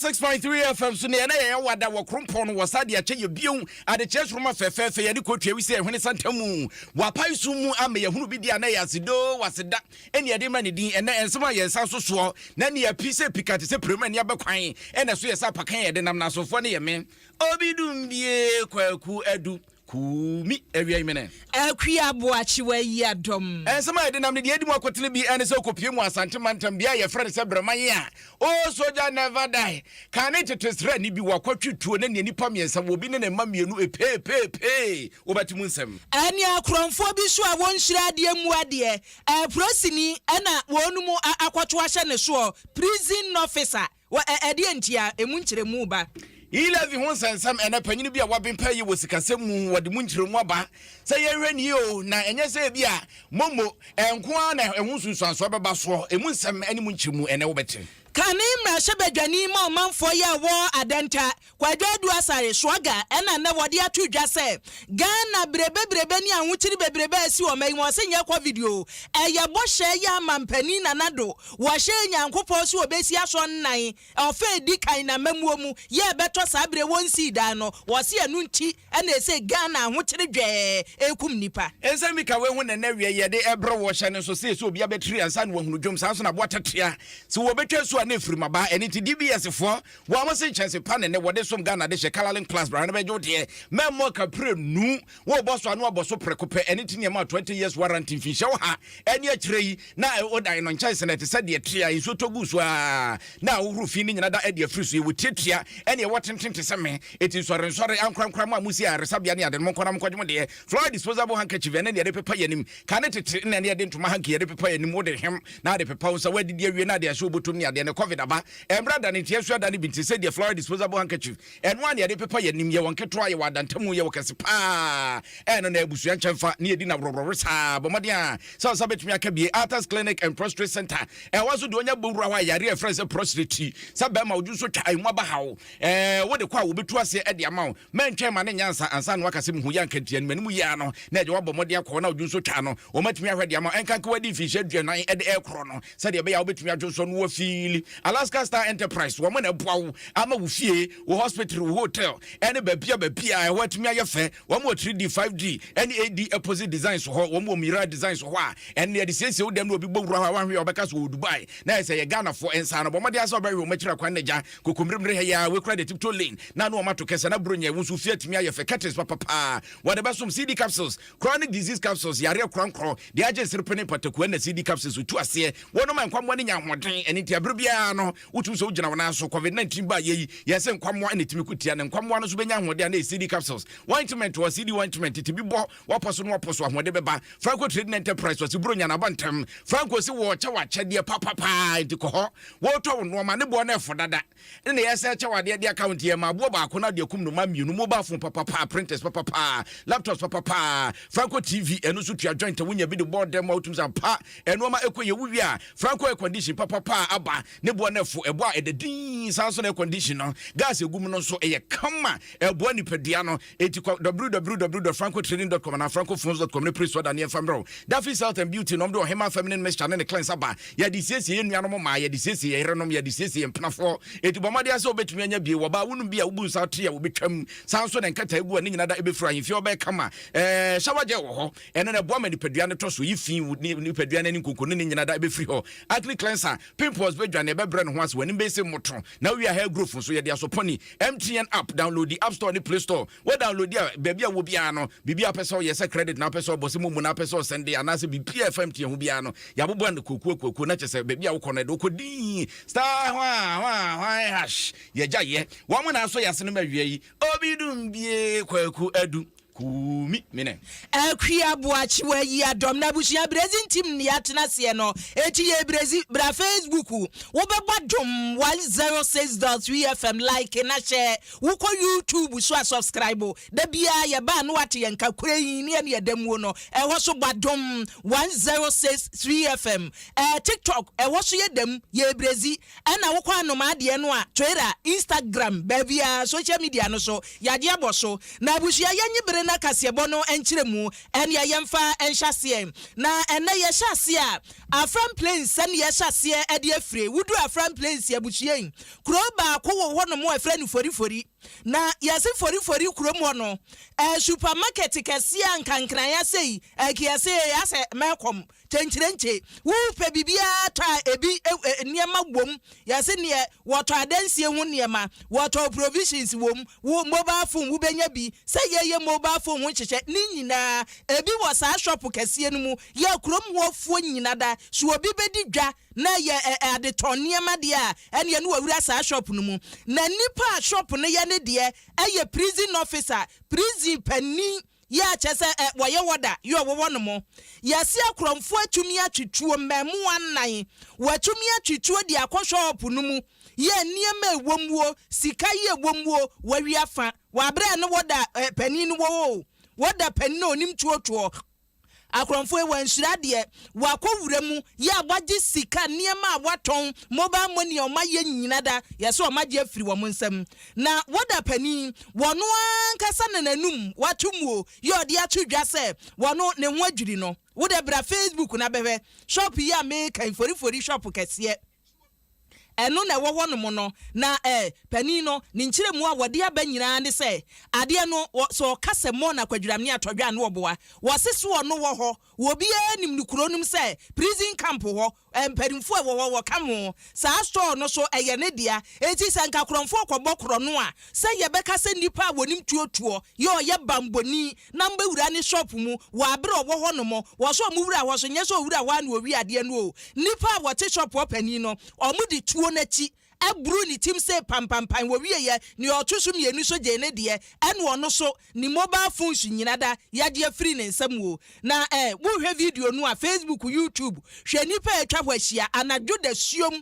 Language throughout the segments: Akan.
six point three fm so nea na yɛyɛ wada wɔ krompɔn no wɔ sa de akyɛ yɛ bio adekyerɛ soroma fɛfɛɛfɛ yɛde kɔtua wi sɛ ɛhwene santamu wapae so mu ama yɛhunu bi di a na yɛ asedoo waseda ɛne yɛde ma ne din ɛnɛ nsɛm a yɛn nsa nso soɔ na ne yɛpi sɛ pika te sɛ prɛmu ani abɛkwan ɛna ɛso yɛ sɛ apakan yɛde nam na asomfoɔ ne yɛ me obi dum bie kwaku adu kuumi awia imene akwi aboakye wayi adɔm. Nsɛm a yɛde nam ne deɛ ɛdi mu akotene bi ɛne sɛ wokɔpie mu asante mantam bia a yɛfrɛ no sɛ brɛma ye a Oh soldier never die Kan ne tete srani bi wakɔ twe tuo ne nea nipa mmiɛnsa wɔ obi ne ne mma mmienu epee pee pee wobɛte mu nsɛm. Ɛne akorɔmfoɔ bi nso a wɔnhyira adeɛ mmu adeɛ Polisini na wɔnom akɔto ahyɛ ne soɔ Prison officer Ɛdeɛ nti a emu nkyerɛmu ba. Yi Levi ho nsɛnsɛm ɛnɛ, panyin bi a waben pɛyɛ wɔ sikasɛm mu, wɔde mu nkyerɛmu aba sɛ yɛnhwɛ no yie o, na ɛnyɛ sɛ ebia momo nko ara na ɛho nsunsuansoɔ bɛba soɔ. Emu nsɛm ne mu nkyerɛmu ɛnɛ wobɛte. Kane mmarahyɛbadwani ma ɔmanfoɔ yi a ɛwɔ Adenta, Kwadwo Adu Asare, Suaga ɛna nnɛ wɔde ato dwa sɛ Ghana bere bebrebe ne ahokyere bebrebe a asi wɔ mma yi mu, ɔse nyɛ covid o, ɛyɛ bɔhyɛ yɛ ama mpanin Nana Addo, wɔhyɛɛ Nyankopɔn sɛ ɔbɛsi asɔnnan. Ɔfa a edi kan na amammuo mu yɛ ɛbɛtɔ saa bere a wɔnsii dan no, wɔse ɛno nti na ɛse Ghana ahokyere dwɛɛ rekum nnipa. Nsɛm bi ka wei ho na nnɛ wieyɛ de ɛbere wɔ hyɛ no nso se sɛ obiara bɛtiri ansa na wahunu dwom saa nso na aboa tatea se wɔbɛtwa asu a na ɛfirim aba ɛno nti DBS foɔ wɔn se nkyɛnse pa na nnɛ wɔde som Ghana de hyɛ colouring class bra no bɛgye wo deɛ mɛmmɔ ka prenu Wobɔ so a, na wabɔ so prɛko pɛ. Ɛno nti na yɛmaa Twenty Years Warranty mfinhyia ɔha ne akyire yi. Na wodan no nkyɛnse no, ɛte sɛ deɛ ɛtere a nsuo tɔ gu so ara, na wohoro fi no nyina da adi afiri so. Yɛwɔ tiatia ne ɛwɔ tenten te sɛ me. Enti nsɔrensɔre, ankorankora, mo a mosi ayaresabea ne ade no, monkɔ na monkɔgye mo deɛ. Flower disposable handkerchief, ɛno na yɛde pepa yɛn anim. Kane tete no, ɛnna yɛde ntoma hanky yɛde pepa yɛn anim. Wode hem na wode pepa wo nsa. Woadidi awie na wode ahyɛ wo bɔtɔm ne adeɛ no, covid aba. Ɛmmra da no nti, yɛnsoa da no bi nti, sɛdeɛ flower disposable handkerchief Ɛno ara na yɛde pepa yɛn anim, yɛwɔ nketewa, yɛwɔ adantamu, yɛwɔ kɛse paa. Ɛno na abusua nkyɛnfa ne edi na worɔworɔworo saa. Bɔ mmɔden ara sɛ wo nsa betumi aka bi. Arthur's Clinic and Prostrate Center, ɛwɔ so de onya bɔ wura hɔ a yare a yɛfrɛ no sɛ prostrate ti sɛ bɛrima odwo nso twa emu aba haw. Ɛɛ, wode kɔ a wobetu ase de ama wo. Mɛntwɛn mma no nyɛ ansa ansa na woaka sɛ mihu yɛ anka nti ɛno m'anim yɛ ara no na agya woabɔ mmɔden akɔ hɔ na odwo nso twa no. Wɔatumi ahwɛ de ama wo ɛnkanka woadi mfirihyia aduanan de rekorɔ no. sɛdeɛ ɛbɛyɛ a wobɛtumi adwonsɔ no wafili alaska star enterprise wɔn na ɛboa wo ama wo fie wo hospital wo hotel ɛne baabia baabia ɛhɔ atumi ayɛ fɛ wɔn wɔ 3d 5d ɛne ad apposite designs hɔ wɔn wɔ mira designs hɔ a ɛne ɛde siesie wo dɛm na obi bɔ wura hɔ a wanhwɛ ɔbɛka so wɔ dubai na ɛsɛ yɛ ghanafoɔ nsa no bɔ mmɔden asɛ ɔbɛhwɛ wɔn akyira kwan na gya kokommeremmere ha yɛ a wekura de tiptoe lane na ano wɔn ato kɛsɛ na buro nyɛ wo nso fie atumi ayɛ fɛ curtains papapaa wɔde bɛsom cd capsules Chronic disease capsules, yareɛ korɔnkorɔn, deɛ agye nserepe ne mpataku ɛna CD capsules tu aseɛ. Wɔnom a nkwammoa no nya ahoɔden, ɛno nti ɛbere biara no wotumi sɛ wogyina wo nan so. Covid 19 baeɛ yi, yɛse nkwammoa na ɛtumi ko tia no, nkwammoa no nso bɛnya ahoɔden a na ɛyɛ CD capsules. Ointment wɔ CD ointment, tete bi bɔ w'apɔ so na w'apɔ so ahoɔden bɛba. Franco Trading Enterprise ɔse Buronya na aba ntɛm. Franco se wɔɔkyɛ wo akyɛdeɛ papa paa, nti kɔ hɔ. Wɔɔtɔ wo nnoɔma, ne boɔ no ɛfo dada. ne nea yɛsan kyɛw adeɛ de aka ho nti yɛma aboɔ baako no ade akum no ma mmienu mobile phone papapaa printers papapaa laptops papapaa franco tv ɛno nso tua joint a wonya bi de bɔɔ dɛm a wotumi san pa ɛnoɔma ɛkɔ yɛ wowie a franco air condition papapaa aba ne boɔ no ɛfo ɛboɔ a ɛda dinn saa nso na air condition no gas egum no nso ɛyɛ kama ɛboa nipadua no Enti kɔ www.francotraining.com anaa francophones.com ne pere so ɔda ne yɛmfa mmerɛ wo. Daffy's Health and Beauty nom de ɔhemaa feminine mixture ne ne cleanse aba. Yɛde siesie yɛn nuanom mmaa, yɛde siesie yɛn yerenom, yɛde siesie yɛn mpenafoɔ. Enti bɔ mmɔden ara sɛ wobɛtumi anya bi. Wɔ baa wonom bi a wobu nsa atre a wɔbɛtwam, saa nso na nkataagu a ne nyina da bɛfiri ahemfie hɔ bɛyɛ kama. Ɛɛ shower gel wɔ hɔ. Ɛno na ɛboa ma nipadua no tɔ so yi fi, wo ne nipadua no ani nkonko no ne nyina da bɛfiri hɔ. Acne cleanser, pimples bɛdwane, ɛbɛbrɛ ne ho ase, w'anim bɛyɛ sɛ mmoto, na wowie a hair growth nso, yɛde asɔ pɔni, MTN app downloadi app store ne play store wɔ downloadi a baabi a wɔ biara no biribi a wopɛ sɛ ɔyɛ sɛ credit na wopɛ sɛ ɔbɔ sɛ momu na wopɛ sɛ ɔsɛnde anaasɛ biribi a ɛfa MTN ho biara no yɛabobɔ ano kuokuo kuokuo na kyɛ sɛ baabi a wokɔ no ɛde wokɔ dii star hwa hwa hwa hash yɛgya yɛ wɔn na asɔ yɛ ase no ma awia yi obi dum bie kwaku adu Kumi mine. Akua Boakyewa yi adɔm na abusua brɛdzi ntsim na yɛatsena aseɛ no eti yɛ brɛdzi bra facebook wo bɛbɔ adom 106 dot 3 fm like na hyɛ wo kɔ youtube so a subscribe da biaa yɛba a na wate yɛn nka kura yi ne ɛne ɛda muo no ɛhɔ so bɔ adom 106 3 fm ɛɛ tiktok ɛhɔ so yɛda mu yɛ brɛdzi Ɛna wokɔ anomaa deɛ no a Twitter, Instagram, baabiara, social media no so, yadeɛ abɔ so. Na abusua yɛnyi bere na kaseɛbɔ no nkyerɛ mu. Ɛneɛ yɛmfa nhyɛ aseɛ. Na ɛnɛ yɛhyɛ aseɛ a, Afram Plains ɛne yɛhyɛ aseɛ ɛde afire. Woduru Afram Plains abusua yi, kuro baako wɔ hɔ nom a yɛfrɛ no Forifori. Na yɛse Forifori kurom hɔ no, ɛyɛ supermarket kɛseɛ a nkankran asei, ɛkeɛsee asɛ mɛkɔm. Kyenkyerenkye, Wopɛ biribiara tɔ a ebi nneɛma wom, yɛse neɛ, wɔtɔ adansie ho nneɛma, wɔtɔ provisions wom, wo mobile phone wobɛnya bi, sɛ yɛyɛ mobile phone ho nhyehyɛ, ne nyinaa ebi wɔ saa shop kɛseɛ no mu, yɛ kurom hɔ foɔ nyina da, so obi bɛdi dwa na yɛ adetɔn nneɛma deɛ a ɛneɛ ne wawura saa shop no mu, na nipa a shop no yɛ ne deɛ yɛ prison officer, prison panin, Yɛ a kyerɛ sɛ ɛ, wɔyɛ wɔda, yɛ a wɔwɔ no mo. Yɛase akorɔmfoɔ atumi atwitwuo mmaamua nnan, wɔatumi atwitwuo de akɔ shɔɔpo no mu, yɛ a nneɛma a ɛwɔ mu o, sika yi a ɛwɔ mu o, wɔawi afa. Wɔ aberɛ a ne wɔda ɛ, panin no wɔ hɔ o, wɔda panin a ɔnim twoɔtwoɔ Akorɔmfo yi wɔanhyira deɛ, wɔakɔ wura mu yɛ a wɔagye sika, nneɛma a wɔatɔn, mobile money a wɔayɛ nyina da, yɛse wɔagye afiri wɔn nsam. Na Warder panin, wɔno ankasa na n'anum wato mu o, yɛ ɔde ato dwa sɛ wɔno ne ho adwiri no. Wodɛ bra Facebook na bɛhwɛ shop yi a meka yi, forifori shop kɛseɛ. Ɛno na ɛwɔ hɔnom no, na eh, panin no, ne nkyerɛmu a wɔde aba nyinaa ne sɛ, adeɛ no, wɔ, sɛ ɔka sɛ mɔ no akwadwiram ne atɔdwan ne ɔboa, wɔse so ɔno wɔ hɔ, wɔ obiara nim no kuro no mu sɛ prison camp hɔ, eh, mpanimfoɔ a ɛwɔ hɔ, wɔka ho, saa store no so ɛyɛ ne dea, enti sɛ nka korɔmfoɔ kɔbɔ korɔno a, sɛ yɛbɛka sɛ nnipa a wɔnim tuo tuo yɛ ɔyɛ banbɔni, na mobɛwura ne shop mu wɔ abere a ɔwɔ hɔ nom, wɔ sɛ ɔmo wura hɔ so, nyɛ sɛ ɔwura hɔ a na ɔwi adeɛ no oo. Nnipa a wɔte shop hɔ panin no, ɔmo de tuo no akyi aburu ne tim see pampampan, wɔwieɛ, nea ɔto so mmienu nso gyee ne deɛ, ɛna ɔno so, ne mobile phones nyina da yagye afiri ne nsa mu oo. Na eh, wo hwɛ video no a, facebook, youtube, hwɛ nnipa a atwa hɔ ahyia, anadwo dasuom,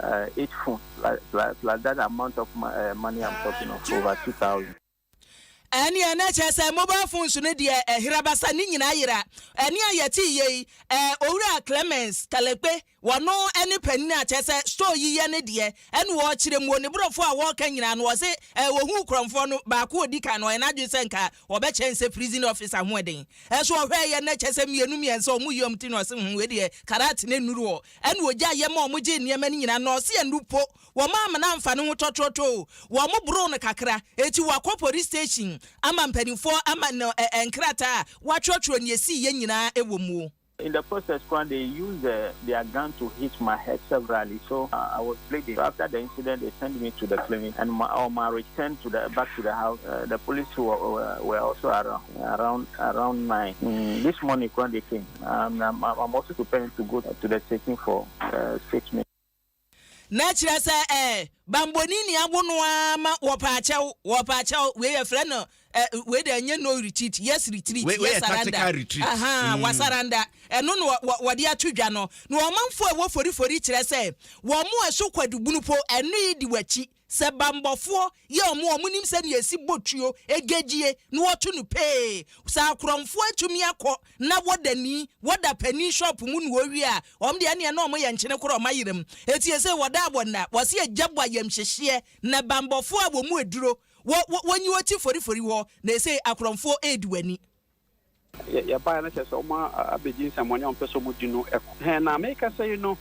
Uh, eight phones plus, plus, plus that amount of uh, money I'm talking of, over 2,000. ɛneɛ na kyerɛ sɛ mobile phones no deɛ ɛhera basa ne nyinaa yera ɛne a yɛte yei ɛɛ owura Clemens Kalekpe wɔno ɛne panin a kyerɛ sɛ store yi yɛ ne deɛ ɛne wɔkyerɛ mu ne borɔfo a wɔka nyinaa no wɔse ɛɛ wɔhu kurɔmfoɔ no baako odi kan no ɔyɛ n'adwene sɛ nka wɔbɛkyɛn sɛ prison officer ho ɛden ɛso ɔhwɛ yɛ na kyerɛ sɛ mmienu mmiɛnsa ɔmo yie ɔmo ti na ɔse ho ɛdeɛ karat ne nnuru wɔ Ɛna ogyaa yɛ ma wɔgyee nneɛma no nyinaa, na ɔse ɛno po wɔn amena amfa no ho tɔtrɔtɔɔ. Wɔboroo no kakra, enti wɔakɔ poris station ama mpanimfoɔ ama no nkrataa a wɔatwerɛtwerɛ nea ɛsiiɛ nyinaa wɔ mu. In the process koraa they used their gun to hit my head severally so I was bleeding so after the incident they sent me to the clinic and on my return to the back to the house the police were also around around around nine this morning koraa they came. I'm I'm I'm also preparing to go to the taking for uh, treatment. na kyerɛ sɛ eh, bambɔni ni awo no ara ma wɔpɛ akyɛw wɔpɛ akyɛw wei yɛfrɛ no eh, wei deɛ ɛnyɛ no retreat yes retreat Wei- wei yɛ yes surrender tactical retreat. aha Mm. wasaranda ɛno na wɔ- wɔ- wɔde ato dwa no na ɔmanfoɔ a ɛwɔ forifori kyerɛ sɛ wɔn mo ɛso kwadubunu po ɛno yi di w'akyi Sɛ bambɔfoɔ yɛ wɔn a wɔnim sɛdeɛ yɛsi bɔ tuo, ɛgɛgyie, na wɔto no pee, sɛ akorɔmfoɔ atumi akɔ na wɔda ni, wɔda panin shop mu na wɔwie a, wɔn deɛ ɛnneɛ na wɔyɛ nkyene korɔ wɔn ayera mu. Enti seesei wɔda a wɔnna, wɔse agya bɔ ayamhyehyeɛ, na bambɔfoɔ a wɔn mu aduro, wɔ, wɔ, wɔnyi wɔn ti forifori hɔ, na seesei akorɔmfoɔ redi wɔn ani. Yɛbaeɛ no kyerɛ sɛ wɔn abɛdi nsɛmmɔne a wɔmpɛ sɛ wɔdi no ko. Hɛn na mekasa yi no,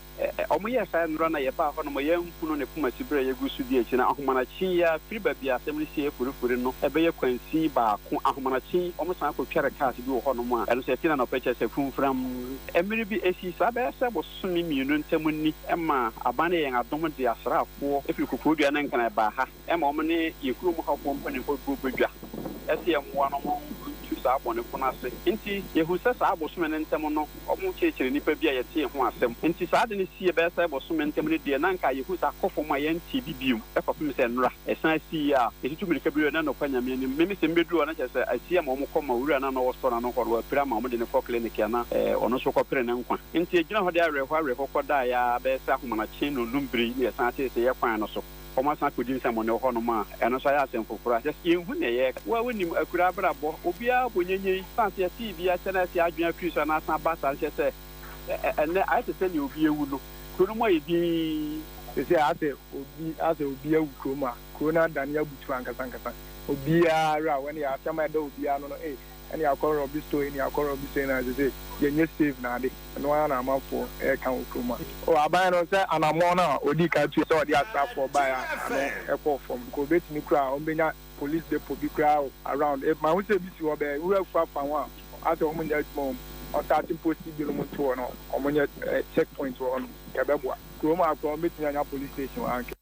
wɔyɛɛ saa nnora na yɛbaa hɔ no ma yɛanhu no ne koma siberɛ a yɛgu so di akyi no. Ahomanakye yi ara, firi baabi a asɛm no sieeɛ forifori no, ɛbɛyɛ kwansin baako. Ahomanakye yi, wɔsan kɔtware cars bi wɔ hɔnom a ɛno nso ɛfiri anɔpa kyerɛ sɛ funfram. Mmere bi akyi, saa bɛyɛ sɛ bosome mmienu ntam ni, ɛmaa aban no yɛɛ yɛn adom de asraafoɔ firi Koforidua ne Nkran baa ha. Ɛma wɔn ne yɛn kurom hɔfoɔ mpanimfoɔ bɔ badwa sɛ yɛmmoa no ma ɔntu saa abɔnefo no ase. Enti yɛhunu sɛ saa bosome no ntam no wɔkyerɛkyerɛ nnipa bi a yɛtee ho asɛm. Enti saa ade no sii ɛbɛyɛ sɛ bosome ntam no deɛ na anka yɛhu saa kɔ fam a yɛntee bi bio kɔpem sɛ nnora ɛsan sii yɛ a yɛtutu mirika bi wura no ɛnokwa Nyame anim. Me me sɛ mebɛduru hɔ no kyerɛ sɛ asi ama wɔn kɔ ma owura no a na ɔwɔ store no ano hɔ no wapira ama wɔde no kɔ clinic a na ɔno nso rekɔpere ne nkwa. Enti yɛgyina hɔ de awerɛhoɔ awerɛhoɔ kɔdaeɛ ara bɛyɛ sɛ ahomanakye nnɔnnum bere na yɛsan tee sɛ yɛkwan no so. wɔasan akɔdi nsɛmmɔne wɔ hɔnom a, ɛno nso ayɛ asɛm foforɔ a kyerɛ sɛ yɛnhu nea ɛyɛ. Wo a wonim akuraa abrabɔ, obiara bɔ nyanyan yi, ɛsiane sɛ yɛtee bi akyɛ na afei adwene afiri so anaa asan aba saa nkyɛ sɛ ɛnnɛ ayɛ te sɛ nea obi awu no. Kuro no mu ayɛ dinn. Seesei ayɛ sɛ obi ayɛ sɛ obi awu kurom a, kuro no adane abutuo ankasankasa. Obiara werɛ ahoɔ, ɛnneɛ asɛm a ɛda obiara ano no, ee, Ɛne akɔrɔ bi so ɛne akɔrɔ bi so ɛna ɛsɛ sɛ yɛnyɛ save no ade ɛno ara na amanfoɔ ɛreka wɔ kurom ha. O aban no sɛ anammɔn no a ɔdii kan tuiɛ sɛ ɔde asraafoɔ baeɛ a ano ɛkɔɔ fam nka ɔbɛtumi koraa a wɔbɛnya police depot bi koraa o around if mahu sɛ ebi si hɔ bɛɛ nwura afuo afa ho a asɛ wɔn nyɛ adwuma wɔ mu wɔn taate mpo si binom nto hɔ na wɔn nyɛ check point wɔ hɔ nom yɛbɛboa kurom a koraa wɔbɛtumi anya police station wɔ ha nka.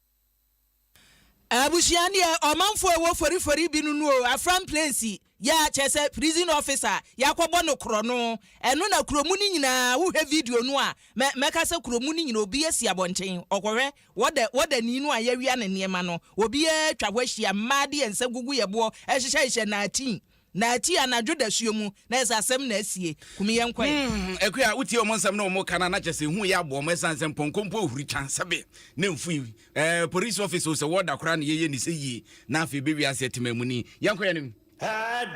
Abusua no yɛ ɔmanfo a ɛwɔ forifori bi no nu o, Afram Place yɛ a kyerɛ sɛ prison officer a yɛakɔbɔ no korɔno. Ɛno na kuro mu no nyinaa, wohwɛ video no a, mɛ, mɛka sɛ kuro mu no nyinaa obi asi abɔnten, ɔkɔhwɛ, wɔda, wɔdani no a yɛawia ne nneɛma no, obiara atwa hɔ ahyia, mmaa de yɛn nsa gugu yɛn boɔ, hyehyɛhyehyɛ naatin, Na ɛte anadwo dasuo mu na yɛ sɛ asɛm na asie. Kumi yɛnkɔ ɛ. Humm Akua wotie wɔn nsɛm na wɔn ka no a na kyerɛ sɛ ehu yɛ aboɔ wɔn ɛsan sɛ mpɔnkɔ mpo huri kya sɛbe na mfui ɛɛ police office o sɛ wɔda koraa na yɛyɛ nisɛ yie na afei bɛ wiase atemamuni yɛnkɔ yɛnim.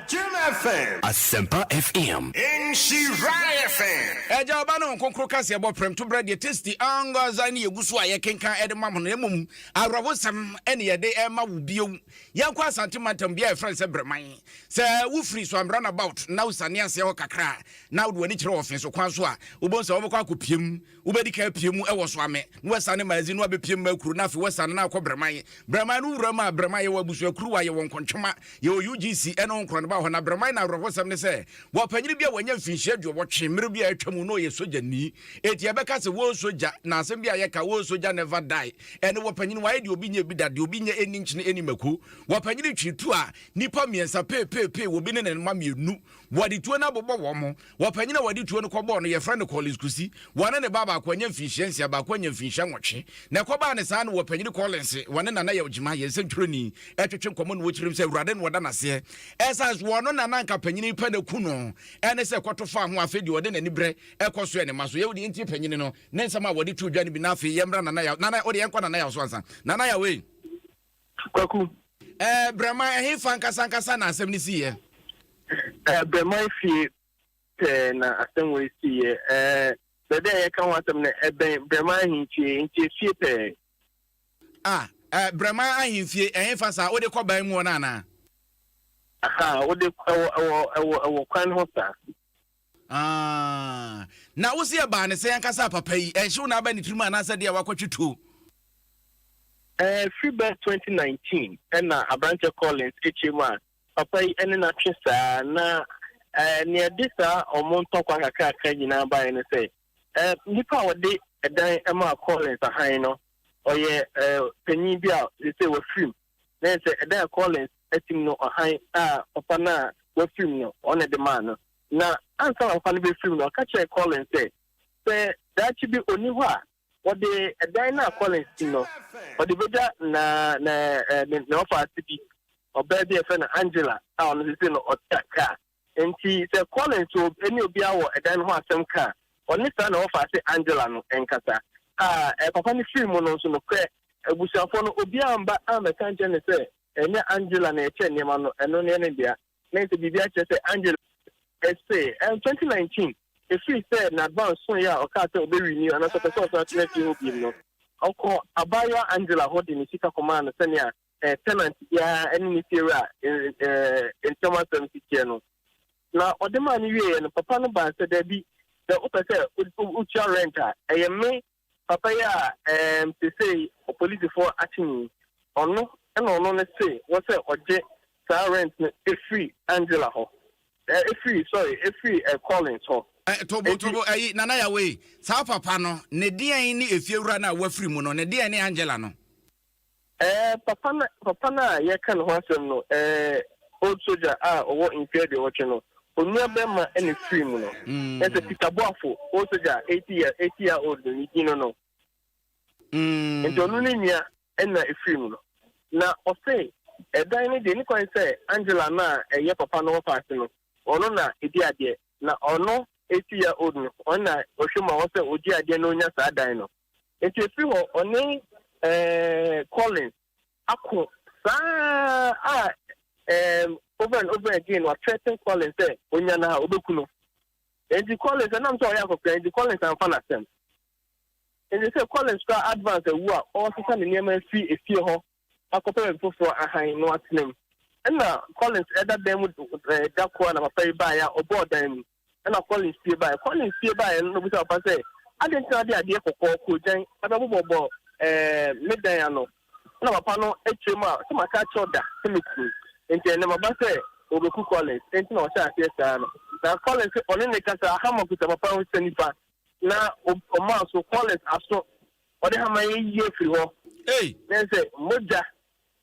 Jim FM. Asempa FM. Nhyira FM. Agya, Ɔba, ne Wɔn Kronkron Kaseɛ bɔ prɛm to berɛ deɛ tasty ankasa ne yɛgu so a yɛkenkan de ma mo no. Mmom, awerɛhosɛm ne yɛde rema wo bio. Yɛnkɔ Asante mantam bea a wɔfrɛ no sɛ Breman. Sɛ wofiri Suam roundabout na wosiane aseɛ hɔ kakra a, na wode w'ani kyerɛ ɔfeso kwan so a, wobɛhu sɛ wobɛkɔ akɔpue mu. Wobɛdi kan apue mu wɔ Suame, na woasiane Maazi, na woabɛpue mu Makuro, na afei woasiane na akɔ Breman. Breman no wuram a, Breman yɛwɔ abusuakuruwa, yɛwɔ Nkontwema, yɛwɔ UGC ne wo nkorɔneba wɔ hɔ. Na Breman no awerɛhosɛm ne sɛ, Wɔpanyin bi a wanya mfinhyia aduɔwɔtwe mmere bi a atwa mu na ɔyɛ sogyani. Enti yɛbɛka sɛ Woo Sogya, na asɛm bi a yɛka, Woo Sogya never die, ɛne wɔpanyin wayɛ deɛ obi nyɛ bi da, deɛ obi nyɛ ɛnni nkyene ɛnni mako. Wɔpanyin twe tuo a, nnipa mmiɛnsa peepeepee wɔ bi ne ne mma mmienu. Wɔde tuo no abobɔ wɔn mo. Wɔpanyin a wɔde tuo no kɔbɔɔ no, yɛfrɛ no Collins Kusi. Wɔne ne ba baako anya mfinhyia nsia, baako anya mfinhyia nwɔtwe. Na ɛkɔbaa ne saa no, wɔpanyin Collins, wɔne Nana Yaw Gyima, yɛn nsɛntwerɛni, twetwe nkɔmmɔ na ɔkyerɛ mu sɛ Awurade na ɔda no aseɛ Ɛsan so ɔno na na nka panyini pɛ na ku no ɛne sɛ kɔto fa ho afei deɛ ɔde n'ani brɛ ɛkɔ so ɛne ma so yɛwo deɛ ntie panyini no ne nsɛm a wɔde to dwa no bi na afei yɛmmra nana yaw nana ɔde yɛnkɔ nana yaw so ansa nana yaw ei kwaku ɛɛ eh, brɛma ɛhe fa nkasa nkasa na asɛm no si yɛ ɛɛ eh, brɛma efie pɛɛ na asɛm wɔ esi yɛ ɛɛ eh, bɛbɛ a yɛka ho asɛm no ɛbɛn brɛma ahentie nti efie pɛɛ Ah eh, Brɛman ahemfie, ɛhefa saa? Wode kɔ ban mu hɔ no anaa? Ahaa, wode kɔ, ɛwɔ, ɛwɔ, ɛwɔ, ɛwɔ kwan ho saa. Ah, na wose ɛbaa ne sɛn ankasa a papa yi? Ɛnhyew na aba ne tirim anaasɛ deɛ wakɔtwe tuo? Eh, firi bɛ 2019 ɛna Aberanteɛ Collins akyire mu a papa yi ɛne no atwe saa, na eh, nea ɛde saa wɔn ntɔkwa kakrakra nyinaa baeɛ ne sɛ, Eh, nipa a ɔde ɛdan maa Collins ahan no, ɔyɛ eh, panyin bi a sese wafirim. Na yɛ sɛ ɛdan a Collins atim no, ɔhan a papa no a wafirim no, ɔno na ɛde maa no. Na ansa na papa no bɛfirim no, ɔka kyerɛɛ Collins sɛ, sɛ daakye bi ɔni hɔ a, ɔde ɛdan no a Collins tim no, ɔde bɛgya na, na, eh, ne, ne ɔfa ase bi, ɔbaa bi a yɛfrɛ no Angela a ɔno sese no ɔte Accra. Enti sɛ Collins wɔ ne obiara wɔ ɛdan no ho asɛm ka a, ɔne saa na wɔfa ase Angela no nkasa. A Ɛɛ, papa no firi mu no nso, nokorɛ, abusuafoɔ no, obiara amma ammɛka ankyerɛ no sɛ ɛnyɛ Angela na ɛkyɛ nneɛma no, ɛno no yɛ ne dea. Na ɛsɛ biribi akyerɛ sɛ Angela ɛsɛ. Ɛɛ, 2019, ɛfiri sɛ Nadvan soeɛ a ɔkaa sɛ ɔbɛrenew anaasɛ ɔpɛ sɛ ɔsan tena fie hɔ bio no, ɔkɔɔ abaayewa Angela hɔ de ne sika kɔmaa no sɛnea Sɛ tɛnant biara ne ne fiewura ntam asɛm si teɛ no, na ɔde maa no wieeɛ no, papa no baa sɛ, Dabi, sɛ wopɛ sɛ wotua rɛnt a, ɛyɛ me papa yi a seesei apolisifoɔ akye no yi, ɔno na ɔno no se wɔ sɛ ɔgye saa rɛnt no firi Angela hɔ, firi, sorry, firi Collins hɔ. Tobotobo, ayi, Nana Yawee, saa papa no, ne deɛn ne efiewura no a wafiri mu no, ne deɛn ne Angela no? Eh, papa no, papa no a yɛreka ne ho asɛm no, eh, old soldier a ɔwɔ mfe aduɔwɔtwe no, onua bɛrima na efirii mu no. Kyerɛ sɛ, Peter Boafo, old soldier a eighty year, eighty year old no, ne din no no. Enti ɔno ne nua na efirii mu no. Na ɔse, ɛdan no deɛ, enikwan sɛ Angela no a ɛyɛ papa no wɔfa ase no, ɔno na edi adeɛ. Na ɔno, eighty year old no, ɔno na ɔhwɛ mu a ɔsɛ ogye adeɛ na onya saa dan no. Enti ɛfiri hɔ ɔne eh, Collins ako saa a eh, over and over again wa threaten Collins sɛ onya no a ɔbɛku no. Enti Collins ɛnam sɛ ɔyɛ akɔkora enti Collins amfa n'asɛm. Enti sɛ Collins koraa advance awu a ɔresesa ne nneɛma afiri efie hɔ akɔpɛ baabi foforɔ ahan na watena mu. Ɛna Collins ɛda dan mu eh, da koro a na papa yi baeɛ a ɔbɔɔ dan mu. Ɛnna Collins fie baeɛ. Collins fie baeɛ no na ɔbisaa papa sɛ, Adɛn nti na wode adeɛ kɔkɔɔ, koogyan, abɛbobɔbɔ me dan ano? Ɛnna papa no kyerɛɛ mu a, ɔse, Maka akyerɛ wo da sɛ mɛku wo. Enti ɛnnɛ maba sɛ wɔbɛku Collins. Enti na ɔhyɛɛ aseɛ saa no. Na Collins se ɔne no rekasa a, hammer kuta papa no nsa nifa. Na ɔmaa so Collins aso. Ɔde hammer yi reyi afiri hɔ. Na ɛsɛ sɛ mogya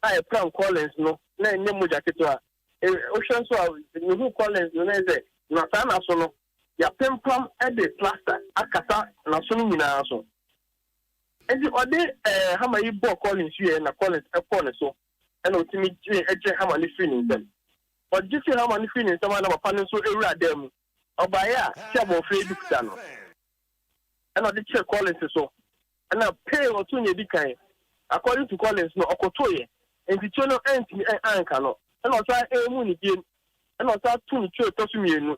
a ɛpram Collins no, na ɛnyɛ mogya ketewa. Wohwɛ nso a, mehu Collins no ne sɛ na saa n'aso no yɛapempam de plaster akata n'aso no nyinaa so. Enti ɔde hammer yi bɔɔ Collins wieɛ na Collins kɔɔ ne so na ɔtumi gyee gyee hammer no firii ne nsam. Ɔgye firi hammer no firii ne nsam a na papa no nso wura dan mu. Ɔbaeɛ a te sɛ abɔfra bi kuta no, ɛna ɔde kyerɛ Collins so, ɛna pee ɔtoo nea edi kan. According to Collins no, ɔkotoeɛ, enti tire no antumi ɛ anka no, ɛna ɔsan ɛɛmuu no biem, ɛna ɔsan too no tire a ɛtɔ so mmienu.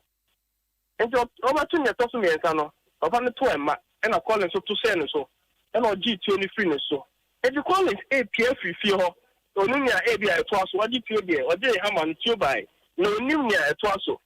Enti ɔ ɔbɛto nea ɛtɔ so mmiɛnsa no, papa no too ɛmma, ɛna Collins nso to hyɛɛ ne so, ɛna ɔgyee tire no firii ne so. Enti Collins ɛɛpue afiri fie hɔ, na ɔnim nea ɛɛbi a ɛtoa so, ɔgye tire deɛ, ɔgyee hammer no, tire baeɛ, na ɔnim nea ɛtoa so.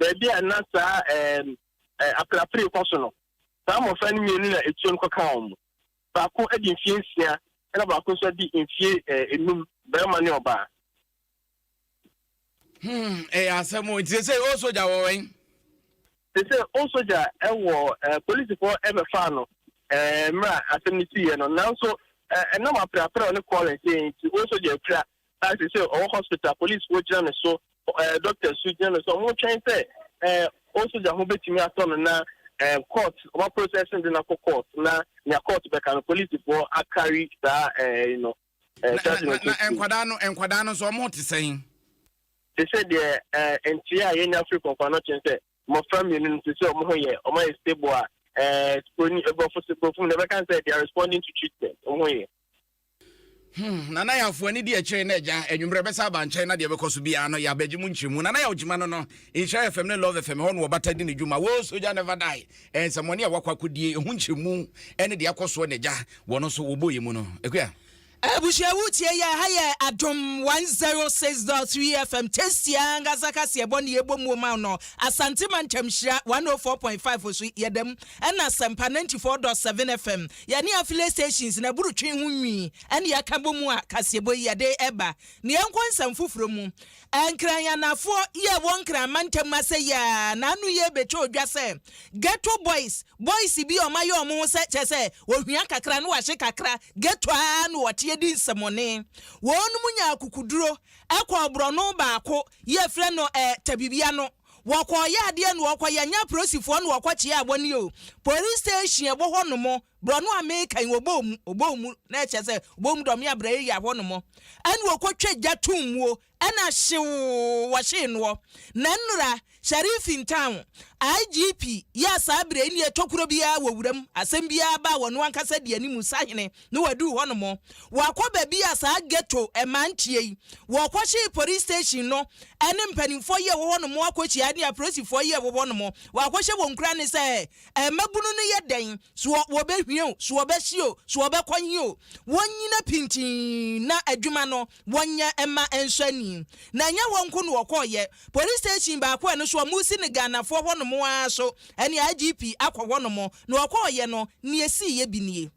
Baabi a na saa aperapere yi kɔ so no, saa mmofra no mmienu na etuam kɔkaa wɔn. Baako adi mfeɛ nsia ɛna baako nso adi mfeɛ enum, barima ne ɔbaa. Hmm, ɛyɛ asɛm o. Nti sɛ sɛ o sogya wɔ wɛn? Sɛ sɛ o sogya wɔ polisifoɔ ɛbɛfaa no mmerɛ a asɛm no siiɛ no, nanso ɛnam aperapere a ɔne Collins yɛɛ nti o sogya apira a sesei ɔwɔ hospital, polisfoɔ gyina no so, eh, doctors nso gyina no so, ɔmo twɛn sɛ eh, old soldier ho betumi atɔ no na eh, court, ɔmo aprocess no de no akɔ court na nea court bɛka no polisfoɔ akari saa eh, no eh, Na, na, charge no na, na nso nkwadaa no, nkwadaa no nso ɔmo te sɛn? te sɛ deɛ eh, nteɛ a yɛnya firi kɔnkɔn no kyɛn sɛ mmɔfra mmienu no te sɛ ɔmo ho yɛ ɔmo ayɛ stable a eh, broni aborɔfo se borɔfo mu na ɛbɛka sɛ they are responding to treatment ɔmo ho yɛ Hmm, Nana Yaw fo ani di akyire na agya anwummerɛ bɛsa aba nkyɛn na deɛ ɛbɛkɔ so biara no yɛabɛgye mu nkyerɛmu. Nana Yaw gyima no no, Nhyira FM ne Love FM ɛhɔ na wɔbata di ne dwuma. Woo Soja Never Die, ɛɛ nsɛmmɔne a wakɔ akɔdie, ɛho nkyerɛmu ɛne deɛ akɔ soɔ na agya wɔn nso wɔbɔ yɛn mu no. Akua. Abusua wotie yɛ ha yɛ adom 106.3 FM tasty ankasa kaseɛ bɔ ne yɛbɔ muo ma wo no Asante mantam hyira 104.5 so yɛda mu Ɛna asɛmpa ninety four dot seven FM yɛne afile stations na ɛboro twe ho nwi ɛna yɛka bɔ mu a kaseɛbɔ yi yɛde ɛba na yɛnkɔ nsɛm foforɔ mu Nkran Anafoɔ yi a ɛwɔ Nkran mantam mu asɛ yi ara na ano yi ɛbɛtwa odwa sɛ ghetto boys boys bi a wɔn ayɛ wɔn ho sɛ kyɛ sɛ wɔhwia kakra na wɔahye kakra ghetto ara na wɔteɛ di nsɛmɔne wɔn mu nya akukuduro ɛkɔɔ borɔno baako yi a yɛfrɛ no eh, Tabibia no wɔkɔɔ yɛ adeɛ na wɔkɔ yɛ nyɛ aporosifoɔ na wɔkɔ kyeaa wɔn yɛ o police station ɛwɔ hɔ nom borɔ no a meka yi wɔbɔɔ mu wɔbɔɔ mu na ɛkyɛ sɛ wɔbɔɔ mu dɔm yɛ abrɛ yɛ yɛ hɔ nom ɛna wɔkɔ twɛ gya to muo ɛna hyewoo wɔhyee noɔ na nnora sheriff in town IGP yɛ saa berɛ yi ne ɛtɔ kuro biara wɔ wuram asɛm biara ba wɔn ankasa di anim sahene na wɔaduru hɔ nom. Wɔakɔ baabi a saa ghetto mmaa nteɛ yi. Wɔkɔhyee police station no ne mpanimfoɔ yi a ɛwɔ hɔ nom akɔhyia ne apolisifoɔ yi a ɛwɔ hɔ nom. Wɔakɔhyɛ wɔn nkuran ne sɛ, Mmabunu no yɛ dɛn? So wɔbɛhwie o, so wɔbɛhye o, so wɔbɛkɔ he o, wɔnnyina pintinn na adwuma no wɔnyɛ mma ɛnsɔ ani. Na ɛnyɛ hɔ nko na wɔkɔeɛ. Police station baako a ɛno nso wɔresi no Ghanafoɔ hɔ nom ara so ne IGP akɔ hɔ nom. Na wɔkɔeɛ no, nea ɛsiiɛ bi nie.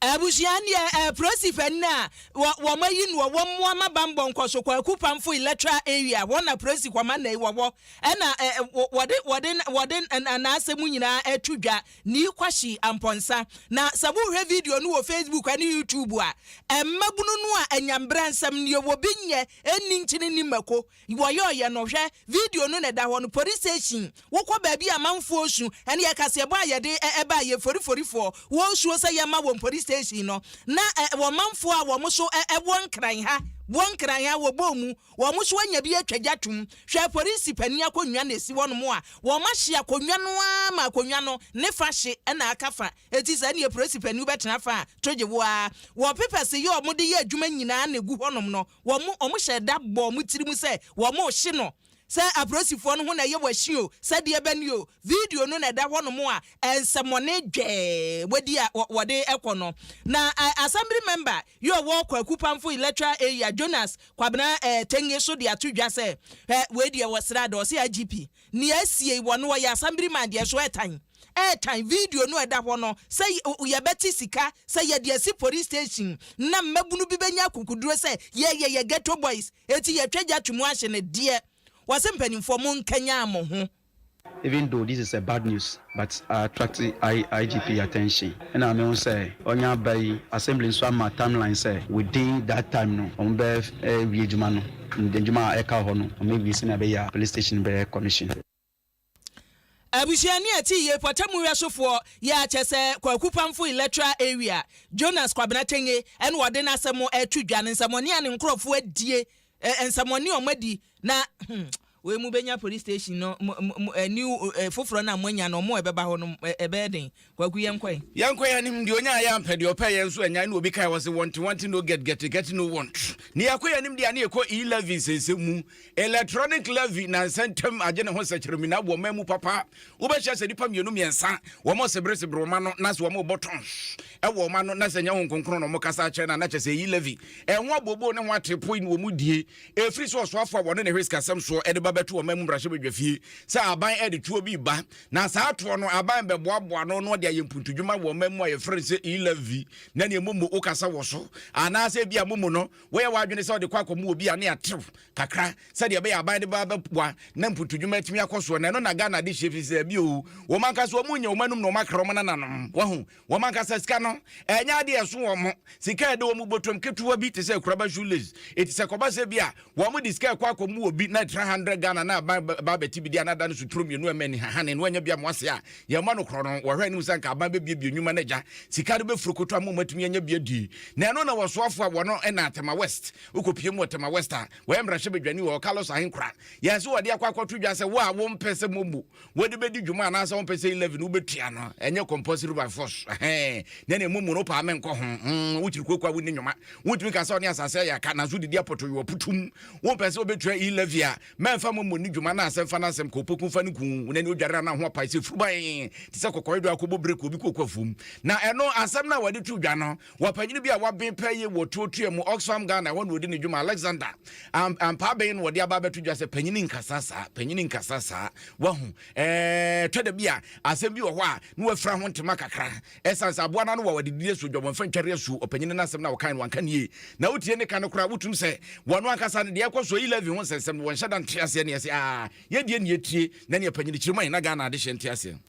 Abusua no yɛ eh, Prosife eh, na wɔ wɔn ayi no wɔ wɔn mmoa ma bammɔ nkɔso kwaku pamfo electoral area hɔ na Prosi kɔma na wɔ hɔ ɛna eh, eh, wɔ- wɔde wɔde wɔde eh, na- n'asɛm nyinaa ɛto dwa ne kwahyi ampɔnsa na sɛ wohwɛ video no wɔ Facebook ne YouTube a eh, mmabunu no a anyambra nsɛm no yɛ wɔ bi nyɛ ɛnni nkyene ni mako Wɔyɔɔyɛ no, hwɛ video no na ɛda hɔ no, Police Station, Wokɔ baabi a amanfoɔ su ne ɛkaseɛbɔ a yɛde ba yɛn foriforifoɔ wɔn suo sɛ yɛmma wɔn Police Station no, na wɔ manfoɔ a wɔn so wɔ nkran ha, wɔ nkran ha, wɔbɔɔ mu, wɔn so anya bi atwa gya atom. Hwɛ Polisi panin akonnwa na ɛsi hɔnom a wɔahye akonnwa no ara ma akonnwa no ne fa hye na aka fa. Enti sɛ ɛneɛ Polisi panin wobɛtena fa a, to gye wo ara. Wɔ papers yi a wɔde yɛ adwuma nyinaa na ɛgu hɔnom no, wɔn, wɔhyɛɛ da bɔɔ wɔn tirim sɛ wɔrehye no, sɛ apolisifoɔ no ho na ɛyɛ wɔahye o, sɛdeɛ ɛbɛ ne o, video no na ɛda hɔnom a nsɛmɔne dwɛɛ wɔadi a wɔde kɔ no. Na Assembly Member yi ɔwɔ Kwaku Pamfo Electoral Area, Jonas Kwabena Tenge nso de ato dwa sɛ wei deɛ wɔ sradaa, ɔse IGP Nea asiei wɔ no hɔ yɛ asambriman deɛ so ɛtan ɛtan video no a ɛda hɔ no sɛ yɛbɛte sika sɛ yɛde asi police station na mmabunu bi bɛnya akukuduro sɛ yɛyɛ yɛ ghetto boys eti yɛtwa gya to mu ahye no deɛ wɔse mpanimfoɔ mo nkanyan mo ho. Even though this is a bad news but I attract IGP attention ɛna mehu sɛ ɔnyɛ aba yi assembly nso ama timeline sɛ within that time no wɔn bɛ wie adwuma no. Ndwuma a ɛka hɔ no wɔn awie sɛnea ɛbɛyɛ a Police Station bɛyɛ Commission. Abusuani a ɛte yie pɔtamu wɛsofoɔ yɛ akyɛ sɛ Kwaku Pamfo Electoral Area, Jonas Kwabena Tenge na ɔde n'asɛm reto dwa, ne nsɛmɔne a ne nkorɔfoɔ adie, nsɛmɔne a wɔadi na Wei mo bɛnya police station no new foforɔ no a mo anya no ɔmo a ɛbɛba hɔ no ɛbɛyɛ den Kwaku yɛn kɔ ɛ. Yɛn kɔ yɛn anim deɛ ɔnya ayɛ ampɛ deɛ ɔpɛ yɛn nso anyae na obi kae hɔ se want want no get get get no want ne yɛkɔ yɛn anim deɛ a ne yɛkɔ e levy nsɛnsɛm mu electronic levy nansa ntɛm agye ne ho sɛkyerɛmina aboɔ man mu papa wobɛhyɛ sɛ nipa mmienu mmiɛnsa wɔn sebere sebere wɔn ano na sɛ wɔn bɔ tɔn ɛwɔ wɔn ano na sɛ nyɛ ho nkonkron na wɔn kasa akyerɛ na na kyɛ sɛ e levy ɛho abooboo ne ho atepoe na wɔn die Ɛfiri sɛ ɔsoafoɔ a wɔne ne hwɛ sikasɛm soɔ de ba bɛto ɔman mu mmarahyɛbadwafie sɛ aban de toɔ bi ba, na saa toɔ no aban bɛboaboa no na ɔde ayɛ mpuntudwuma wɔ ɔman mu a yɛfrɛ no sɛ e-levy, na neɛ momo wokasa wɔ so, anaasɛ ebia momo no woyɛ w'adwene sɛ ɔde kɔ akɔmo wɔ bi a ne atew kakra sɛdeɛ ɛbɛyɛ aban de ba bɛboa na mpuntudwuma atumi akɔ soɔ, na ɛno na Ghana de hyɛ fi sɛ dabi o, wɔn ankasa wɔnyɛ wɔn anom na wɔakra wɔn nananom, wahu. Wɔn ankasa sika no, ɛnyɛ ade a ɛso wɔn. Sika a ɛda wɔn bɔtɔm ketewa bi te sɛ akuraba shoelace. Enti sɛ ɛkɔba sɛ ebia wɔde sika rekɔ akɔma obi na ɛtra hundred Ghana na aban ba ba abɛte bi de a na ada no so turo mmienu a ɛma ani hahane na wanya bi amoa ase a, yɛn mma no korɔ no, wɔhwɛ anim sɛ anka aban bɛbuebue nnwuma no agya sika no bɛfurukoto ama wɔatumi anya bi adi. Na ɛno na wɔsoafoɔ a wɔn na Tema West, wokɔpue mu wɔ Tema West a, wɔyɛ mmarahyɛbadwani wɔ hɔ, Carlos Ahenkorah, yɛɛ sɛ wɔde akɔ akɔto dwa sɛ wo a wompɛ sɛ mobu wode bɛdi dwuma anaasɛ wompɛ sɛ 11 wobɛtua no ɛnyɛ compulsory by force na ne mmom no paa menkɔ ho mm, wokyiri kuakua wonni nnwoma wotumi ka sɛ ɔne asase ayɛ aka nanso wodedi apɔtoyɛ aputum wompɛ sɛ wobɛtua 11 a mɛmfa mmɔmmɔ ni dwuma na asɛmfa no asɛm ka wopɛku fa no ku na ne odware ana ho apae sɛ furuban te sɛ kɔkɔedo akɔbɔ berɛ kɔ obi kɔkɔ afuom na ɛno asɛm no a wɔde to dwa no Ɔpanyin bi a waben paa yie wɔ Tuotuɛ mu, Oxfam, Ghana, ɛhɔ na ɔdi ne dwuma. Alexander, amp, ampaaben na ɔde aba abɛto dwa sɛ panyin nkasa saa, panyin nkasa saa. Wahu? Ɛɛ, tɔ da bi a, asɛm bi wɔ hɔ a, na wafira ho ntoma kakra. Ɛsan sɛ aboa no ano wɔ a wɔde didi asuo, dwabɔnfa ntware asuo. Ɔpanyin no asɛm no a ɔkae no, wanka no yie. Na wotie ne ka no koraa a, wotum sɛ wɔn ankasa no, deɛ ɛkɔ so, E-levy ho nsɛnsɛm no, wɔnhyɛ da nte aseɛ nea ɛsɛ. Aa, yɛdeɛ nea ɛtie, na nea panyin kyerɛ mu a, yɛn na Ghana adehyeɛ nte aseɛ.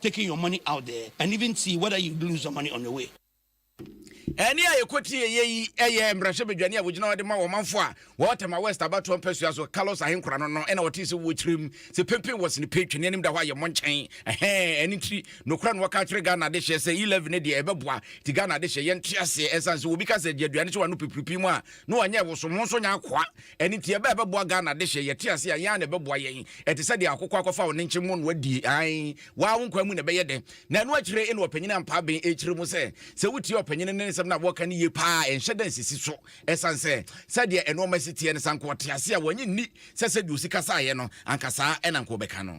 taking your money out there and even see whether you lose your money on the way. Ɛnne a yɛkɔtie yɛ yi yɛ mmarahyɛbadwani a wɔgyina hɔ de ma wɔn manfo a wɔwɔ Tema West abatoɔ mpasua so, Carlos Ahenkora no no na ɔtee sɛ wɔ kyerɛm sɛ pempen wɔ sene pɛ, twene anim da hɔ a yɛ mmɔ nkyɛn. Ɛhɛɛ, ɛno nti nokorɛ no wɔka akyerɛ Ghana adehyeɛ sɛ E-levy no deɛ ɛbɛboa, nti Ghana adehyeɛ yɛnte aseɛ ɛsiane sɛ obi ka sɛ gye aduane sɛ wano pipiripi mu a na ɔnyɛ ɛwoso ho nso nyɛ akoa. Ɛno nti ɛbɛ a ɛbɛboa Ghana dehye, yɛte ase a, yɛn ara na ɛbɛboa yɛn. Ɛte sɛ deɛ akokɔ akɔfa ɔnenkye mmonnua di, aane, waa wo nkwa mu na ɛbɛyɛ dɛ. Na ɛno akyire na ɔpanyin Ampaa Ben rekyerɛ mu sɛ, sɛ wotie ɔpanyin no nsɛm no a, wɔka no yie pa ara a, ɛnhyɛ da nsisi so. Ɛsiane sɛ, sɛdeɛ nnoɔma si teɛ no, sɛ anka ɔte ase a, wannye nni sɛ sɛdeɛ osi kasaeɛ no, anka saa na anka ɔbɛka no.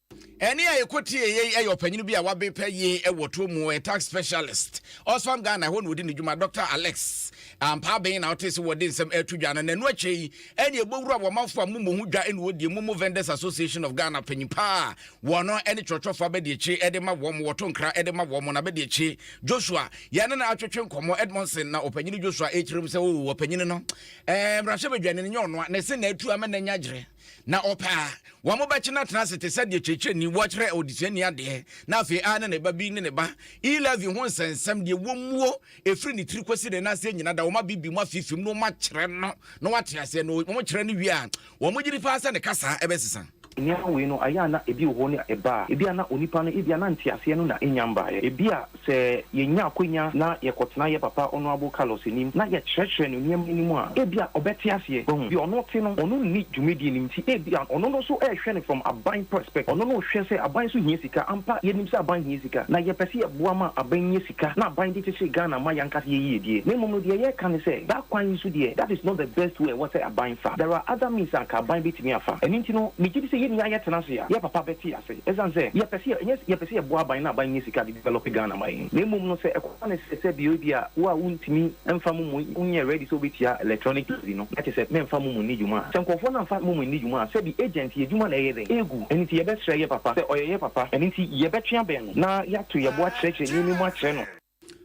Ɛnne a yɛkɔtiee yei yɛ ɔpanyin bi a wabe pɛ yie wɔ toɔ mu, ɔyɛ tax specialist, Oxfam Ghana, ɛhɔ na ɔdi ne dwuma, Dɔkta Alex Ampaa Ben na wotee sɛ wɔde nsɛm reto dwa no, na ɛno akyire yi ɛnne a ɛbɔ wura wɔ amanfoɔ a mommɔ ho dwa na wɔdie, Momo Vendors Association of Ghana panyin pa a wɔn ne twerɛtwerɛfoɔ abadiakyire de ma wɔn, wɔto nkra de ma wɔn, n'abadiakyire Joshua, yɛne no atwetwe nkɔmmɔ, Edmondson na ɔpanyin Joshua rekyerɛ mu sɛ, Oo, ɔpanyin no, eh, mmarahyɛbadwani no nyɛ ɔnoa na ɛse na atu ama n'ani agyerɛ. Na ɔpɛ a, wɔbɛkyena atena ase te sɛ deɛ kyerɛkyerɛni, wɔkyerɛ ɔdesuani adeɛ, na afei ara na ne ba bi ne ne ba. E. Levi ho nsɛnsɛm, deɛ wɔmmuo, ɛfiri ne tiri kɔsi ne nan ase nyina da, wɔma bibi mu afifim na wɔakyerɛ no na wate aseɛ, na wɔkyerɛ no wie a, wɔgye di paa sɛ ne kasa bɛsesa. Nneɛma wei no, ayɛ a na ebi wɔ hɔ ne a ɛbaa. Ebia na onipa no, ebia na nteaseɛ no na ɛnnya mbaeɛ. Ebia Sɛ yenya akwanya na yɛkɔtena yɛn papa Honourable Carlos anim na yɛkyerɛkyerɛ no nneɛma no mu a, ebia ɔbɛte aseɛ. Wahu? Deɛ ɔno te no, ɔno nni dwumadie no nti, ebia ɔno no nso rehwɛ no from aban perspect. Ɔno no rehwɛ sɛ aban nso hia sika. Ampa, yɛnim sɛ aban hia sika, na yɛpɛ sɛ yɛboa ma aban nya sika na aban de kyekyere Ghana ma y'ankasa yɛn yiedie. Na mmom no, deɛ yɛreka ne sɛ, daa kwan yi nso deɛ, that is not the best way a ɛwɔ sɛ aban fa. There are other means a anka aban bɛtumi afa. Ɛno nti no, megye di sɛ yɛn nyinaa yɛtena ase a, yɛn papa bɛte. ase esiane sɛ yɛpɛ sɛ ɛnyɛ yɛpɛ sɛ yɛboa aban na aban nyɛ sika de develop Ghana ma yɛn na mmom no sɛ ɛkɔba no sɛ sɛ bia ebia wo a wontumi mfa momo wonyɛ ready sɛ wobɛtua electronic levy no na kyerɛ sɛ mɛmfa momo nni dwuma a sɛ nkurɔfoɔ no amfa momo anni dwuma a sɛbi agent yɛ adwuma na ɛyɛ dɛn ɛregu ɛno nti yɛbɛsrɛ yɛ papa sɛ ɔyɛ yɛ papa ɛno nti yɛbɛtwe abɛn no na yɛato yɛbo akyerɛkyerɛ nneɛma mu akyerɛ no.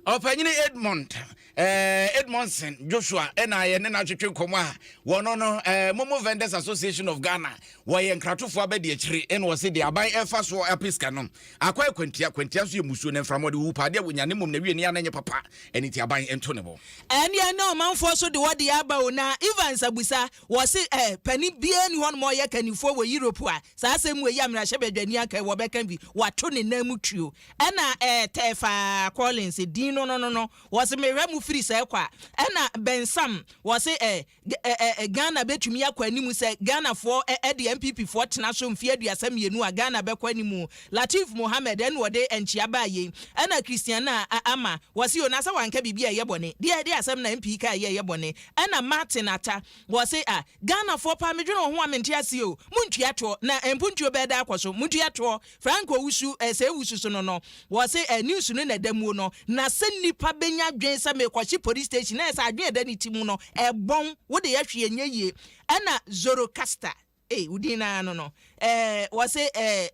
Ɔpanyin Edmund eh, Edmondson Joshua na yɛne no atwetwe nkɔmmɔ a wɔno no eh, Momo Vendors Association of Ghana wɔyɛ nkratofoɔ abɛde akyire ɛna ɔse deɛ aban ɛfa so ape sika no akɔ akwantia kwantia nso yɛ musuo na mframa ɔde wuwu paa deɛ wɔnya ne mmom na wie ne ana nyɛ papa ɛne ti aban ɛnto ne bo. Ɛnneɛ na ɔmanfoɔ so de wɔdeɛ aba o na Evans Abusa Wɔse eh, panin biara nni hɔ nom a ɔyɛ kannifoɔ wɔ Europe a saa asɛm wei a mmarahyɛbadwani aka yi wɔbɛka bi, wɔato ne nan mu tuo. Ɛna eh, Tefa Collins, din no no no no, wɔse mehwɛ mo firi sɛɛ kɔ a. Ɛna Ben Sam, wɔse eh, eh, eh, Ghana bɛtumi akɔ anim sɛ Ghanafoɔ eh, eh, de NPP foɔ tena so mfeɛ aduasa mmienu a, Ghana bɛkɔ anim o. Lateef Mohammed, ɛna ɔde nkyea baa yei. Ɛna Christiana Ama, wɔse o, na sɛ wanka biribi a ɛyɛ bɔne, deɛ, deɛ asɛm na MP kaeɛ yi a ɛyɛ bɔne? Ɛna Martin Atta, wɔse ah, Ghanafoɔ paa medwene wo ho a mente aseɛ o, montua toɔ na mpontuo bɛɛda akɔ so, montua toɔ, Frank Owusu eh, sɛ Owusu so no no, wɔse eh, news no na ɛda muo no, na sɛ nnipa bɛnya adwene sɛ mekɔhye police station, ɛɛ sɛ adwene a ɛda ne ti mu no, ɛbɔn, wode yɛ hwee ɛnyɛ yie, ɛna Zorocaster. Ei wo din no ara no no eh wɔse eh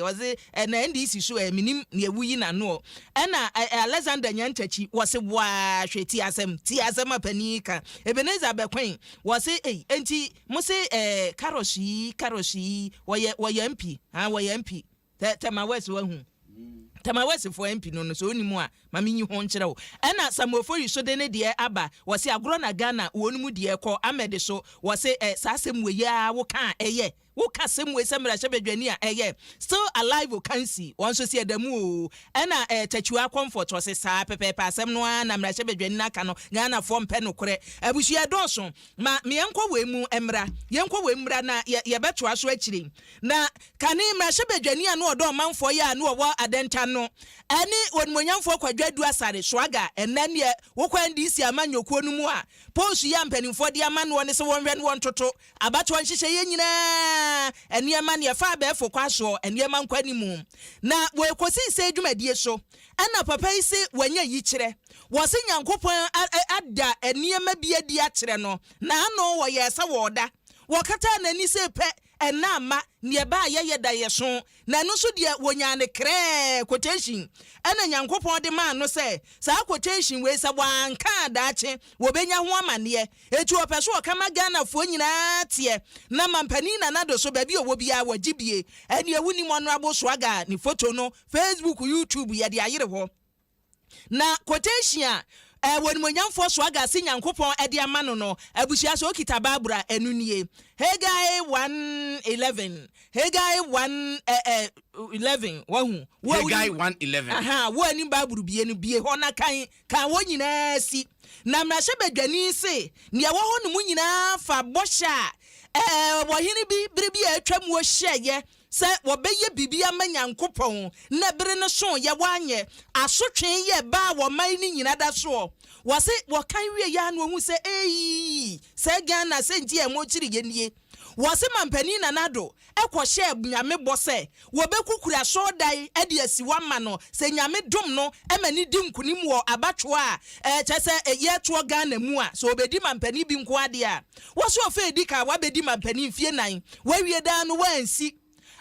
wɔse eh na NDC so eh menim neɛ woyi n'ano ɔ ɛna eh Alexander Nyantakyi wɔse boaa hwɛ tie asɛm tie asɛm a panin yi ka Ebenezer Bɛkwen wɔse ei enti mose eh Carros yi Carros yi wɔyɛ wɔyɛ MP haa wɔyɛ MP Tɛ tɛ ma wɛsi wahu. Tɛ ma wɛsi fo MP no no sɛ ɔni mu a ma me nyi ho nkyerɛ wo. Ɛna Samuel Foyi so de ne deɛ aba wɔse agorɔ na Ghana wɔn mu deɛ kɔ Ahmed so wɔse ɛ saa asɛm wei yi aa wo ka a ɛyɛ? Wo ka asɛm wei sɛ mmarahyɛ badwani a ɛyɛ? Still alive Okansi wɔn nso se ɛda mu oo. Ɛna ɛ Takyiwaa Comfort wɔse saa pɛpɛɛpɛ asɛm no aa na mmarahyɛ badwani no aka no Ghana foɔ mpɛ nokorɛ. Abusua ɛdɔɔso ma meɛnkɔ wei mu mmra yɛnkɔ wei mmra na yɛ yɛbɛtoa so akyire yi na Kane mmarahyɛbadwani a na ɔdɔ ɔmanfoɔ yɛ a na ɔwɔ Adɛntan no ɛne Onimuonyamfoɔ Kwadwo Adu Asare, Swaga, ɛnnɛ nneɛ wokɔ NDC amanyɔ kuo no mu a, post yi a mpaninfoɔ de ama noɔ ne sɛ wɔnhwɛ ne wɔntoto abatoɔ nhyehyɛeɛ nyinaa nneɛma ne ɛfa abɛɛfo kwan soɔ nneɛma nkɔ animu na wɔɛkɔsi sɛɛ dwumadie so ɛna papa yi se wanya yikyerɛ wɔse Nyankopɔn ada nneɛma bi adi akyerɛ no naano wɔyɛɛ sɛ wɔɔda wɔkataa nani se pɛ Ɛnna amma nea ɛbaeɛ yɛ daeɛso, na ɛno nso deɛ, wɔnyaa no krɛɛ, quotation, ɛnna Nyankopɔn de maa no sɛ, saa quotation wei, sɛ wɔanka a daakye wɔbɛnya ho amanneɛ. Enti ɔpɛ sɛ ɔka ma Ghanafoɔ nyinaa teɛ, na Mampanin Nana Addo nso, baabi a ɔwɔ biara, wɔgye die. Ɛnneɛ wonim Honourable Swagger ne photo no, Facebook, YouTube, yɛde ayere hɔ. Na quotation a eh, W'animuonyamfoɔ Swagga se Nyankopɔn de ama no no, abusua sɛ okita Bible a, ɛno nie. Haggai one eleven, Haggai one eh, eh, eleven, wahu? Wo a Haggai wonim, one eleven. aha, wo a wonim Bible bie no, bie hɔ na kan, kan hɔ nyinaa si. Na mmarahyɛbadwani se, Nea ɛwɔ hɔ no mu nyinaa fa bɔhyɛ a eh, ɔhene bi bere bi a atwam wɔ hyɛeɛ sɛ wɔbɛyɛ biribi ama Nyankopɔn, na bere no soeɛ wɔanyɛ, asotwee yɛ baa wɔn man no nyina da soɔ. Wɔse wɔkan wieɛ ara na wɔhunu sɛ eii! Sɛ Ghana sɛ nti a ɛmɔ kyiriiɛ nie. Wɔse Mampanin Nana Addo kɔ hyɛɛ Nyame bɔ sɛ wɔbɛku kura asɔɔdan de asi hɔ ama no sɛ Nyame dom no ma no di nkunim wɔ abatwoɔ a kyɛsɛ yɛtoɔ Ghana mu a sɛ ɔbɛdi Mampanin bi nko ara deɛ a Wɔso afe a edi kan a wabedi mampanin mfe nnan, wawie dan no, wansi.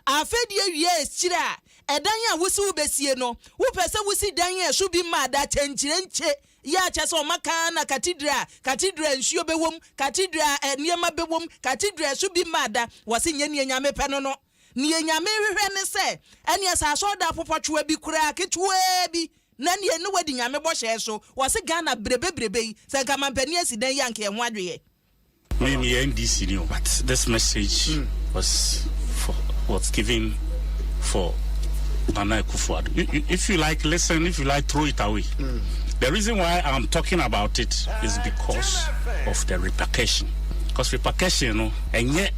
Afe di awiei a esikyire a ɛdan a wose wobesie no, wopɛ sɛ wosi dan a ɛso bi ma ada akyɛnkyerɛnkye yɛ akyɛ sɛ ɔma kan na katidra, katidra a nsuo bɛwom, katidra a nneɛma bɛwom, katidra a ɛso bi ma ada, wɔse nyɛ nea Nyame pɛ no no. Nea Nyame nhwehwɛ ne sɛ ɛneɛ sɛ asɔrdan popɔtwewa bi koraa ketewaa bi na ɛneɛ ne wadi Nyame bɔhyɛɛ so, wɔse Ghana brebe brebe yi sɛ nka mampanin asi dan yi a nka ɛho adweyɛ. Me meyɛ NDC ni o but this message was for was given for Nana Akufo-Addo you, you, if you like listen if you like throw it away the reason why I am talking about it is because of the repercussion because repercussion no ɛnyɛ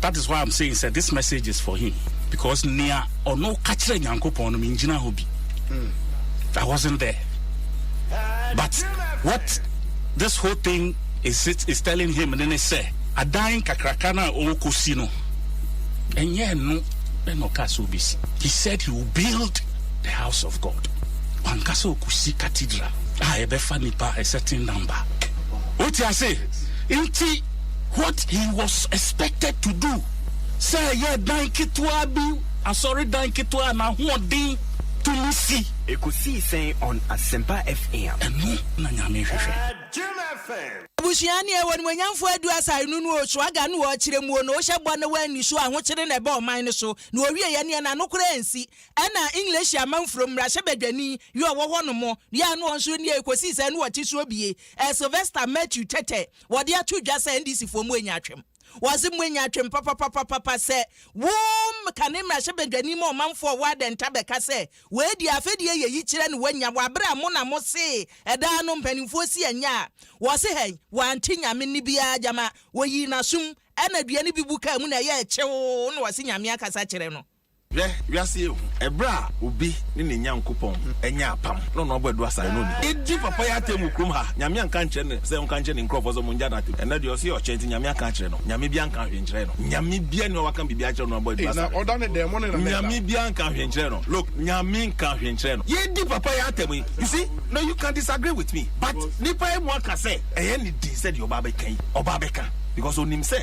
That is why am saying sɛ this message is for him because nea ɔno ka kyerɛ Nyankopɔn no me ngyina hɔ bi. Mm. I wasn't there. But what this whole thing is, it, is telling him ne ne sɛ adan kakraka no a ɔrekɔsi no ɛnyɛ ɛno ɛna ɔka sɛ ɔbɛsi. He said he will build the house of God. Wanka sɛ ɔkɔsi cathedral a ɛbɛfa nipa a certain number. Wote ase? Nti What he was expected to do, sɛ ɛyɛ dan ketewa bi, asɔredan ketewa a n'ahoɔden tumi si. Ekosii sɛn on Asempa FM? Ɛno na Nyame hwehwɛ. Abusua ne Ew'animuonyamfoɔ Adu Asare no no Osuaga no Okyerɛ muo no Ohyɛ bɔ na Oanni so Ahokyere na Ɛba ɔman no so na Owieɛ neɛ na Nokorɛ ansi Ɛna English Amanfrom mmarahyɛbadwani yɛ ɔwɔ hɔ nom yɛ a na ɔnso nie Ekosii sɛn no Ɔte so bie Sylvester Mathew Tɛtɛ Wɔde ato dwa sɛ NDC foɔ moanya atwem. Wɔse moanya atwem papapapapa sɛ wo kane mmarahyɛbadwani ma ɔmanfoɔ wɔ adɛnta bɛka sɛ wei deɛ afɛdie yɛ yi kyerɛ ne wanya wɔ abere a mo na mo see ɛdaa no mpaninfoɔ si anya a wɔse hɛn wante nyame nne biara gyama wɔyii nasom ɛna dua no bi bu kaa mu na ɛyɛɛ kyewoo na wɔse nyame akasa kyerɛ no. Hwɛ, wiase yɛ hu. Ɛberɛ a obi ne ne Nyankopɔn anya apam, na ɔno abɔ aduasa a ɛno nni hɔ. Edi papa yi atɛm wɔ kurom ha. Nyame anka ankyerɛ no sɛ ɔnka nkyerɛ ne nkurɔfoɔ sɛ wɔngya no atɛm. Ɛnnɛ deɛ ɔse ɔkyɛ nti Nyame aka akyerɛ no. Nyame biara nkaa hwee nkyerɛɛ no. Nyame biara nni hɔ a waka biribi akyerɛ no na wabɔ aduasa no. Nyame biara nkaa hwee nkyerɛɛ no. Look, Nyame nkaa hwee nkyerɛɛ no. Yɛredi papa yi atɛm yi, you see, now you can disagree with me, but nnipa yi mu aka sɛ ɛyɛ ne di sɛ deɛ ɔba abɛka yi, ɔba abɛka because ɔnim sɛ.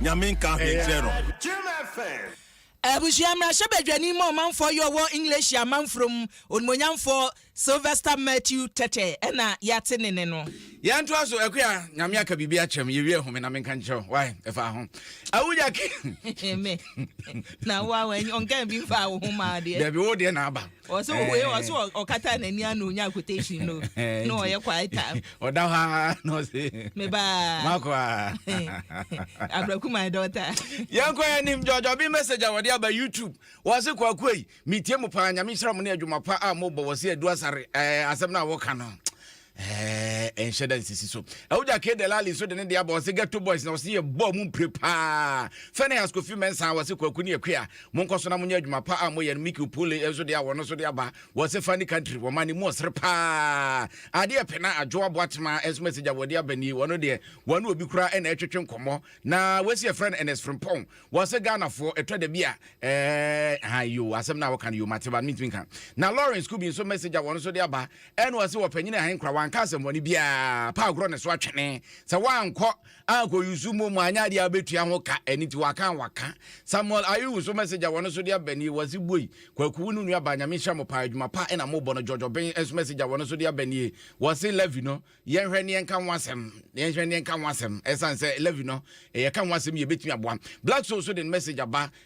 Nyame nka hwee nkyerɛ no. Abusua mmarahyɛbadwani ma ɔmanfoɔ yi ɔwɔ Englehyi amanfrom, Onimoonyamfoɔ Sylvester Matthew Tete na yɛate ne nne no. Yɛn toa so, Akua, Nyame aka biribi akyerɛ me, yɛwie home na menka nkyerɛ wo, wai, ɛfaa ho. Awunya ke. Me? Na wo a, ɔnkaa bi mfaa wo ho maa deɛ. Dabi, wo deɛ na aba. ɔsɛ wei ɔsɛ ɔkata n'ani ano onya quotation no na ɔyɛ quiet time ɔda hɔ ara na ɔsɛ mebaa makɔ a abraku my daughter yɛnkɔ yɛ nim jɔjɔ bi message a wɔde aba youtube wɔse kwakoa yi metie mu paa nyame nhyira mo ne adwuma pa a mobɔ wɔ se adu asare asɛm no a wɔka no ɛɛ nhyɛ da nsisi so ɛwogya ke delali nso de ne deɛ abɔ ɔse ghetto boys na ɔse yɛbɔ mu mpire paa fɛne askofi mɛnsa wɔse kwaku ne akua monkɔ so na monyɛ adwuma pa a moyɛ no miki opole nso deɛ wɔno so de aba wɔse fa ne country wɔma ne mu ɔsere paa adeɛ pena adwo aboa tema nso mɛsɛgya wɔde aba nie wɔno deɛ wɔne obi kora ɛna ɛtwetwe nkɔmmɔ na wɔasi ɛfrɛ no ɛnɛs frimpɔn wɔse ghanafoɔ ɛtɔ da bi a ɛɛ ha yo asɛm no a wɔka no yo mateba no mentumi nka na lawrence kubi nso mɛsɛgya wɔno so de aba Ɛna ɔse ɔpanyin a ahen kora wanka asɛmmɔne biaa pa agorɔ ne so atwene sɛ wankɔ ankɔ yusu mo mu anyɛ adeɛ a bɛtua ho ka ɛne nti waka waka Samuel Ayew so message a wɔno so de aba nie wɔse boi kwaku wo ne nua baa nyame nhyira mo paa adwuma pa ɛna mobɔ no George Oben nso message a wɔno so de aba nie wɔse Levi no yɛnhwɛ ne yɛnka ho asɛm yɛnhwɛ ne yɛnka ho asɛm ɛsan sɛ Levi no yɛka ho asɛm yɛbɛtumi aboa Black Soul so de message aba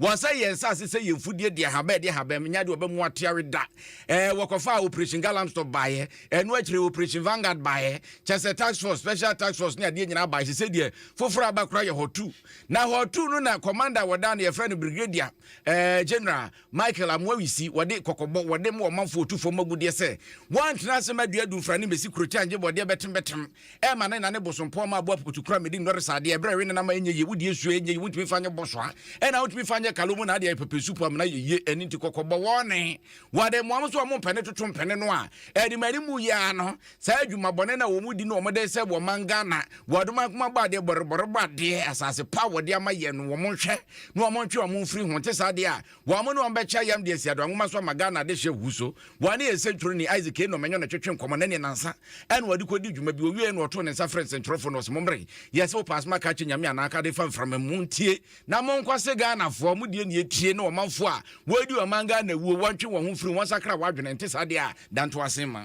Wɔsɛe yɛn nsase sɛ yɛn mfudeɛ de ahabɛn de ahabɛn nya de ɔbɛmu ateare da. Ɛɛ wɔkɔfa operation galamstop baeɛ. Ɛno akyire operation vanguard baeɛ. Kyɛ sɛ tax force special tax force ne adeɛ nyinaa baeɛ. Sese deɛ foforɔ aba koraa yɛ hɔtu. Na hɔtu no na commander wɔda no yɛfrɛ no brigadier ɛɛ general Michael Amoawisi wɔde kɔkɔbɔ wɔde ma ɔmanfoɔ tu fam agudeɛ sɛ wɔntena ase ma duadumfra ne mmɛsi kurokyɛngye bɔdeɛ bɛtem bɛtem Ɛma ne na ne bosompɔ ma abo apukutu kura medi nnɔre saa adeɛ ɛberɛ ɛwe ne nama ɛnyɛ yie wodi esuo ɛnyɛ yie wontumi fa nyɛ bɔsoa ɛna wotumi fa nyɛ kalo mu na adeɛ ɛpɛpɛ supu amena yɛ yie ɛne nti kɔkɔ bɔ wɔne wɔde mmoa mo so wɔn mpɛne toto mpɛne no a ɛde ma ne mu yɛ ano saa adwuma bɔne na wɔn di no wɔn de sɛ wɔn man Ghana wɔadoma nkoma bɔ adeɛ bɔrebɔrebɔ adeɛ asase pa wɔde ama yɛ no wɔn nhwɛ na wɔn ntwe wɔn mfiri ho te saa adeɛ a Wɔn ne wɔn bɛkyɛ ayam de asi adɔa nwoma so ama Ghana adehye ahuhu so. Wɔn ne yɛn sɛnkyerɛwni Isaac Enoh Manyɔ na ɛtwetwee nkɔmmɔ, na ɛneɛ nnansa na wɔde kɔdii dwuma bi. Ɔwieeɛ no ɔtoo ne nsa frɛɛ nsɛnkyerɛwfoɔ no, ɔse, Mommre, yɛ sɛ wopɛ asɛm aka akyerɛ Nyame anaa aka adefa mframa mu, ntie, na monkɔ se Ghanafoɔ, mo deɛ na yɛtie, na ɔmanfoɔ a wɔredi ɔman Ghana wuo, wɔntwe wɔn ho mfiri ho, wɔnsakra wɔn adwene, ɛnte saa deɛ a, da ntoasen ma.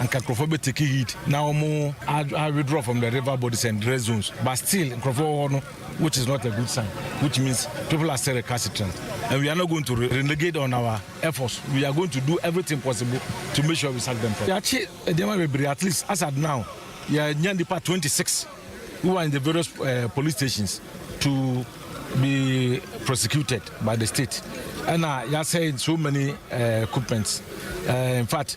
anka nkurɔfoɔ bɛ take heed na wɔn a withdraw from the river bodies and red zones but still nkurɔfoɔ wɔ hɔ no which is not a good sign which means people are still recalcitrant and we are not going to renegade on our efforts we are going to do everything possible to make sure we sack them from. yɛakye nneɛma bebree at least as at now yɛanya nipa 26 who are in the various uh, police stations to be prosecuted by the state ɛna yɛasɛ so many uh, equipments uh, in fact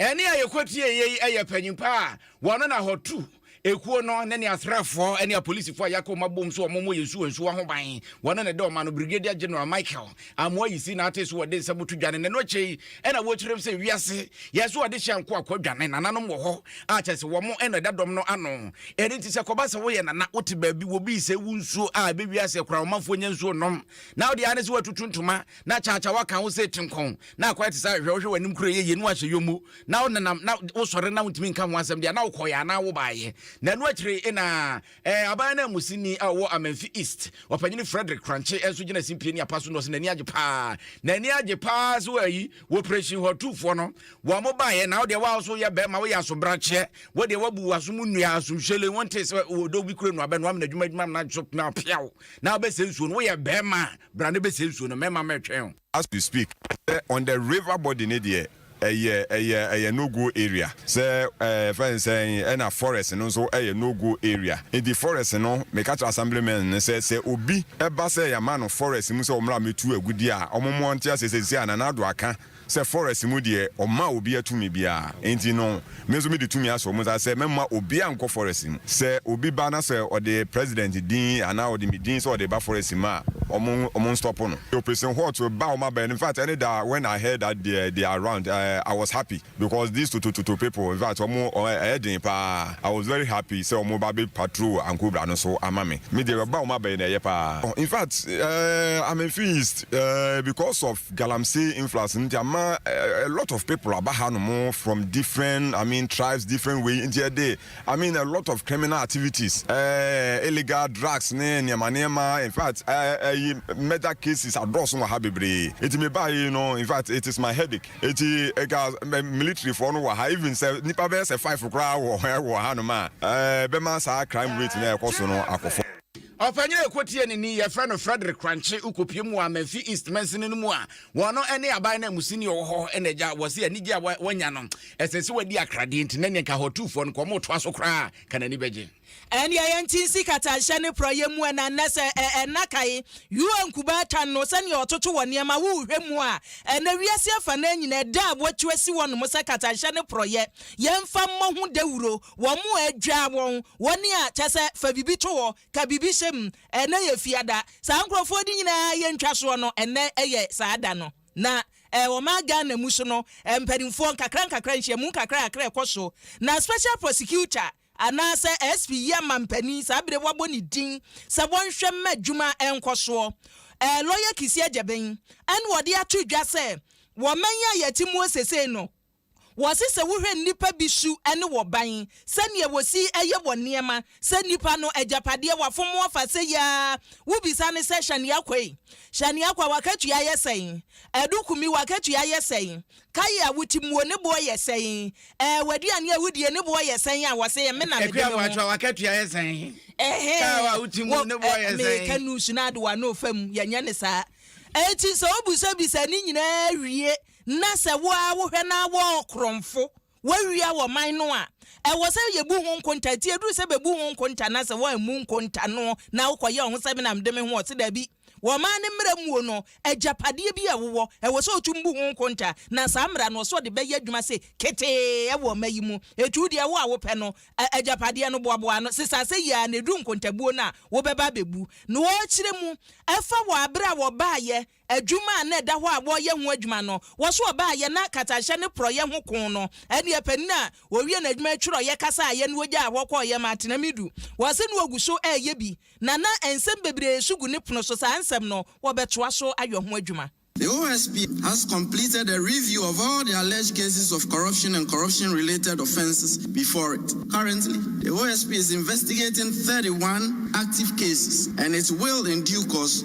Ɛnne a yɛkɔtieeɛ yi yɛ panyimpa a wɔn na hɔtu ekuo no ne ne asraafoɔ ne apolisifoɔ a yɛaka wɔn abom sɛ wɔmmɔ yɛn nsuwa nsuwa ho ban. Wɔn na ɛda ɔma no Brigadier General Michael Amoah Yisi Nartey so wɔ de nsɛm to dwane na ɛno akyɛ yi na wɔkyerɛm sɛ wiase yɛ so ade hyɛ nkoa kɔ dwane nananom wɔ hɔ a kyɛ sɛ wɔn na ɛda dɔm no ano. Ɛno nti sɛ kɔba sɛ woyɛ nana wote baabi wɔ bi sɛ wo nsuo a ɛbɛ wiase kora ɔmanfoɔ nya nsuo nnom na wode ane sɛ watutu ntoma na kyakyawa ka wo sɛ tinkɔn, na akwae te sɛ ahwehwɛ, wohwɛ w'anim kura yɛ yie na wahyɛ yɔmmu, na wonenam, na wosɔre na wontumi nka ho asɛm deɛ a, na wokɔeɛ anaa wobaeɛ. Na ɛno akyire yi na ɛɛ, aban ananmusini a ɔwɔ Amenfi East, Ɔpanyini Frederick Kranche nso gyina simpie ne apa so na ɔse n'ani agye paa, n'ani agye paa sɛ ayi, wɔpresin hɔ tuufoɔ no, wɔbaeɛ, na wo deɛ wo a wo nso woyɛ barima, woyɛ asobrakyeɛ, wo deɛ woabu w'aso mu nnua, asomhyelen, wontee sɛ ɔdɔ bi kura nnuaba na wamena adwuma adwuma amena nso na apea wo, na wobɛsɛ nsuo no, woyɛ barima a, Bra na bɛsie nsuo no, mɛma mɛtwɛn wo. As we speak sɛ on the river body no deɛ ɛyɛ ɛyɛ ɛyɛ no go area sɛ ɛɛ yɛfrɛ no sɛn ɛna forest no nso ɛyɛ no go area nti forest no meka kyerɛ assembly men no sɛ sɛ obi ɛba sɛ yɛama no forest mu sɛ ɔmmra mmɛtu agudeɛ a wɔn mo ɔnte aseɛ sɛ sisi a Nana Addo aka Sɛ forest mu deɛ ɔmmaa obia tumi biaa enti no me nso mede tumi ahyɛ ɔmo nsa sɛ mɛmma obia nkɔ forest mu. Sɛ obi ba na sɛ ɔde president din anaa ɔde me din sɛ ɔde ba forest mu a ɔmo ɔmo nstop no. Operation hot ba ɔmo abɛn no infact ɛne da when I heard that they they are around I was happy because these totototo people infact ɔmo ɛyɛ den paa I was very happy sɛ ɔmo ba bɛ patrol Ankobra no so ama me. Me deɛ ɔba ɔmo abɛn no ɛyɛ paa infact eh I'm in Fee East eh because of Galamsey influence no nti ama a lot of people aba ha nom from different I mean tribes different way nti ɛde I mean a lot of criminal activities eh, illegal drugs ne nneɛma nneɛma in fact ɛyi eh, eh, murder cases adɔɔso wɔ ha bebree nti me baa yi no in fact it is my headache nti ɛka eh, military foɔ no wɔ ha even sɛ nipa bɛyɛ sɛ five koraa wɔ wɔ ha nom a ɛɛ bɛma saa crime rate na ɛkɔ so no akɔfɔ. Ɔpanyin a ɛkɔ tie no ni, yɛfrɛ no Frederick Kranche, wokɔpiem wɔ Amenfi East mansini no mu a, wɔn ne aban nanmusini a ɔwɔ hɔ na agya, wɔse anigye a wɔanya no, ɛsɛ sɛ wɔadi akradeɛ nti na neɛ nka Hɔtufoɔ no nka wɔtoa so koraa ka n'ani bɛgye. Ɛnneɛ yɛnte nsi katanhyɛ ne porɔeɛ mu ɛna nnɛ sɛ ɛna kae UN Kubaa tan no sɛdeɛ ɔtoto wɔ nneɛma wo wohwɛ mu a ɛnɛ wiase afanaa nyinaa ɛda a wɔatu asi hɔnom sɛ katanhyɛ ne porɔeɛ yɛmfa mmɔ ho dawuro wɔn a adwa wɔn, wɔn a kyɛ sɛ fa biribi to hɔ, ka biribi hyɛ mu, ɛnnɛ yɛ Fiada, saa nkurɔfoɔ no nyinaa yɛ ntwasoɔ no, ɛnnɛ yɛ saa da no. Na ɔman Ghana mu so no, mpanimfoɔ nkakra nkakra, nhyiamu nkakra nkakra ɛkɔ so, na Special Prosecutor anaasɛ SP yi ama mpanin saa berɛ wɔabɔ ne din sɛ wɔnhwɛ mma adwuma nkɔ soɔ. Ɛɛ Lawyer Kissi Agyebeng ɛna wɔde ato dwa sɛ wɔ man yi a yɛte mu wɔ sesei no, Wɔse sɛ wohwɛ nnipa bi su ne wɔ ban, sɛdeɛ wɔsi yɛ wɔ nneɛma, sɛ nnipa no agyapadeɛ, wafom wɔfa sɛ yi ara, wobisa no sɛ Shania Kwei, Shania Kwa w'akatua yɛ sɛn? Adu Kumi w'akatua yɛ sɛn? Kaye a wotimuo ne boɔ yɛ sɛn? Ɛɛ w'aduane a wodie ne boɔ yɛ sɛn a, wɔse me na mede me ho. Akua Boakywa w'akatua yɛ sɛn? Car a wotimuo ne boɔ yɛ sɛn? Meka nusu no adewa no fa mu, yɛnyɛ no saa. Enti sɛ wobisabisa ne nyinaa wie na sɛ wo ara wohwɛ na wɔn korɔnfo wɔawia wɔ man no a, ɛwɔ sɛ yɛbu ho nkonta. Nti ɛduru sɛ bɛbu ho nkonta na sɛ wɔammu nkonta no na wokɔyɛ wo ho sɛ me na mede me ho ɔse daabi. Wɔ ɔman no mmara muo no, agyapadeɛ bi a wowɔ, ɛwɔ sɛ wotum bu ho nkonta. Na saa mmara no, ɔsɛ ɔde bɛyɛ adwuma se ketee wɔ ɔma yi mu. Ɛtu deɛ wo a wopɛ no, a agyapadeɛ no boaboa ano, sesa sɛ yie ara na ɛduru nkontabuo no a wobɛba abɛbu. Na wɔkyerɛ mu, ɛfa wɔ aberɛ a wɔbaeɛ Adwuma a na ɛda hɔ a wɔreyɛ ho adwuma no, wɔso ɔbaayɛ na katanhyɛ ne porɔeɛ ho koo no. Ɛnneɛ panin a ɔwie n'adwuma twerɛeɛ kasaaeɛ na ɔgyaa hɔ kɔeɛ ma Atenamidu. Wɔse na ɔgu so reyɛ bi, na na nsɛm bebree nso gu ne pono so. Saa nsɛm no, wɔbɛtoa so ayɔ ho adwuma. The OSP has completed a review of all the alleged cases of corruption and corruption-related offences before it. Currently, the OSP is investigating thirty one active cases and it will, in due course,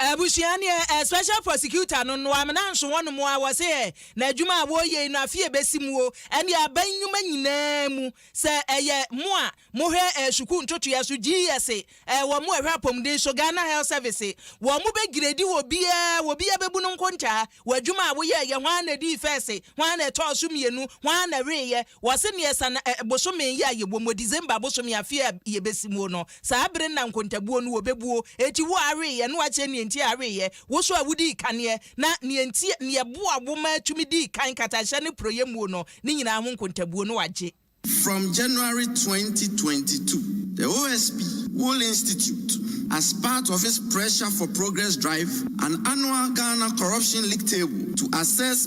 Abusua no yɛ ɛ special prosecutor no no amena nso wɔn mo a wɔ se ɛ na adwuma a wɔ yei no afe ɛ bɛsi mu o ɛne aban nnwuma nyinaa mu sɛ ɛ yɛ mo a mo hwɛ ɛ sukuu ntotoeɛ so GS ɛ wɔ mo ɛ hwɛ apɔmuden so Ghana Health Service ɛ wɔ mo bɛ giredi wɔ biaa wɔ biaa bɛ bu no nkontaa wɔ adwuma a wo yɛ yɛ hwan na dii first hwan na ɛtɔɔ so mmienu hwan na wee yɛ Wɔse nea ɛsa na ɛ bosome yi a yɛwɔ mu, December bosome afe a yɛbɛsi muo no, saa bere no na nkontabuo no wɔbɛbuo. Enti wo a aweeɛ na woakyerɛ nea nti a aweeɛ, wo nso a wodii kaneɛ, na nea nti a, nea ɛboa wo ma tumi dii kan katanhyɛ ne porɔeɛ muo no, ne nyinaa ho nkontabuo na wɔagye. From January twenty twenty two, the OSP Wool Institute, as part of its Pressure for Progress drive, an annual Ghana Corruption League Table to assess,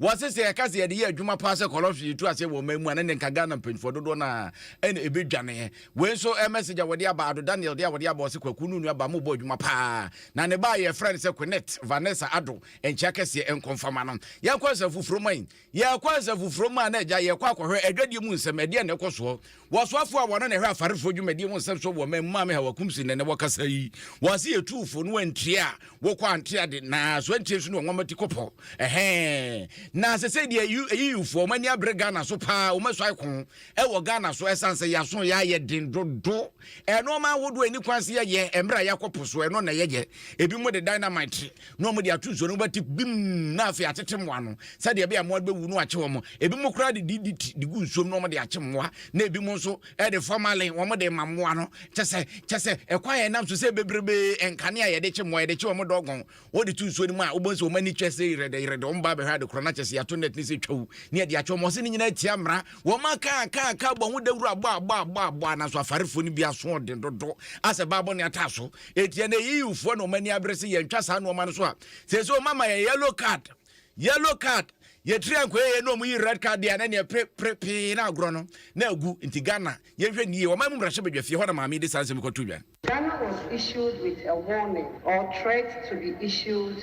Wɔse sɛ yɛka sɛ yɛde yɛ adwuma paa sɛ corruption yɛtu aseɛ wɔ ɔman mu a, ne ne nka Ghana mpanyinfoɔ dodoɔ no ara ɛna ɛbɛdwaneɛ. Wei nso ɛyɛ message a wɔde aba Addo Daniel deɛ a wɔde aba ɔse Kwaku no nuabaa mobɔ adwuma paa na ne ba a yɛfrɛ no sɛ Quinnet Vanessa Addo nkyea kɛseɛ nkɔ mfama no. Yɛnkɔ Asafo Furoman. Yɛkɔ Asafo Furoman a na agya yɛkɔ akɔhwɛ adwadie mu nsɛm ɛdeɛn na ɛkɔ soɔ Wɔsoafo a wɔno na ɛhwɛ afarefo dwumadi ho nsɛm so wɔ ɔman mu Maame Hawa Kumsi na ɛnɛ wɔkasa yi. Wɔse yɛ tuufo no antie a wokɔ ante ade na so antie nso ne wɔn nwɔma ti kɔ pɔ. Ɛhɛɛ. Na sesei deɛ ayiyufoɔ wɔn ani abre Ghana so paa wɔn asuae ko wɔ Ghana so ɛsan sɛ yaso ya yɛ den dodo ɛnoɔma ahodoɔ ɛni kwan se yɛ yɛ ɛmberɛ a yakɔ po so ɛno na yɛ yɛ. Ebi mo de dynamite na wɔde ato nsuo no wobɛte bim na afei atete mmoa no sɛdeɛ ɛbɛyɛ mmoa bɛwu no akye wɔn ebinom koraa de DDT de gu nsuom na wɔde akye mmoa na ebinom nso ɛde formalin wɔde ma mmoa no kyɛ sɛ kyɛ sɛ ɛkwan a ɛnam so sɛ bebrebe nkanea a yɛde kye mmoa yɛde kye wɔn dɔgɔn wɔde to nsuo no mu a wobɛhu sɛ wɔn ani kyɛ sɛ yerɛdɛ yerɛdɛ wɔn ba bɛhwɛ ade korɔ na kyɛ sɛ yɛato net ne sɛ twawu ne ɛde akyɛ wɔn ɔse ne nyinaa tia mmara wɔn aka aka aka bɔ ho dawuro abɔ abɔ abɔ abɔ nanso afarefoɔ no bi aso ɔden dodo asɛ baabɔ ne ataa so Enti ɛnna AUfoɔ na wɔn ani abere sɛ yɛntwa saa nneɛma no so a, seesei wɔn ama yɛ yellow card. Yellow card. Yɛtiri ankoye yɛ na wɔn yi red card deɛ a na neɛ pre pre pee na agorɔ no na agu. Nti Ghana yɛnhwɛ nie. Wɔn mu mmarahyɛ badwa fie hɔ na maame yi de saa nsɛm yi kɔto dwa. Ghana was issued with a warning or threat to be issued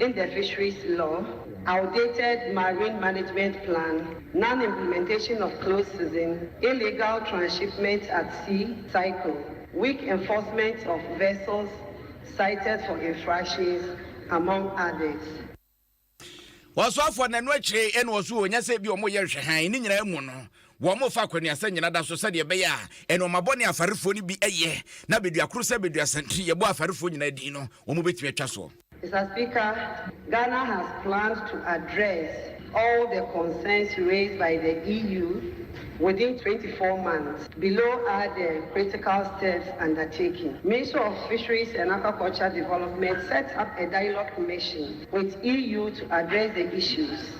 in the Fisheries Law, outdated Marine Management Plan, non-implementation of close season, illegal transshipment at sea cycle, weak enforcement of vessels cited for infractions, among others. Ɔsoafoɔ no, ɛno akyire na ɔso ɔnya sɛ bi wɔyɛ nhwɛhan, ne nyinaa mu no, Wɔrefa akwanuasa nnyina da so sɛdeɛ ɛbɛyɛ a nnoɔma bɔne a Farefoɔ no bi yɛ na Baduakoro sɛ Baduasantini yɛbɔ a Farefoɔ nyinaa din no wɔbɛtumi atwa soɔ. Mister Speaker, Ghana has planned to address all the concerns raised by the EU within twenty four months. Below are the critical steps undertaking. Ministry of Fisheries and Aquaculture Development set up a dialogue mission with EU to address the issues.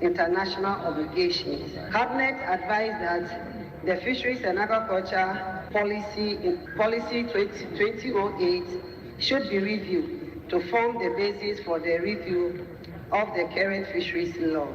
international obligation. Cabinet advised that the Fisheries and Agriculture Policy Policy twenty twenty oh eight should be reviewed to form the basis for the review of the current Fisheries Law.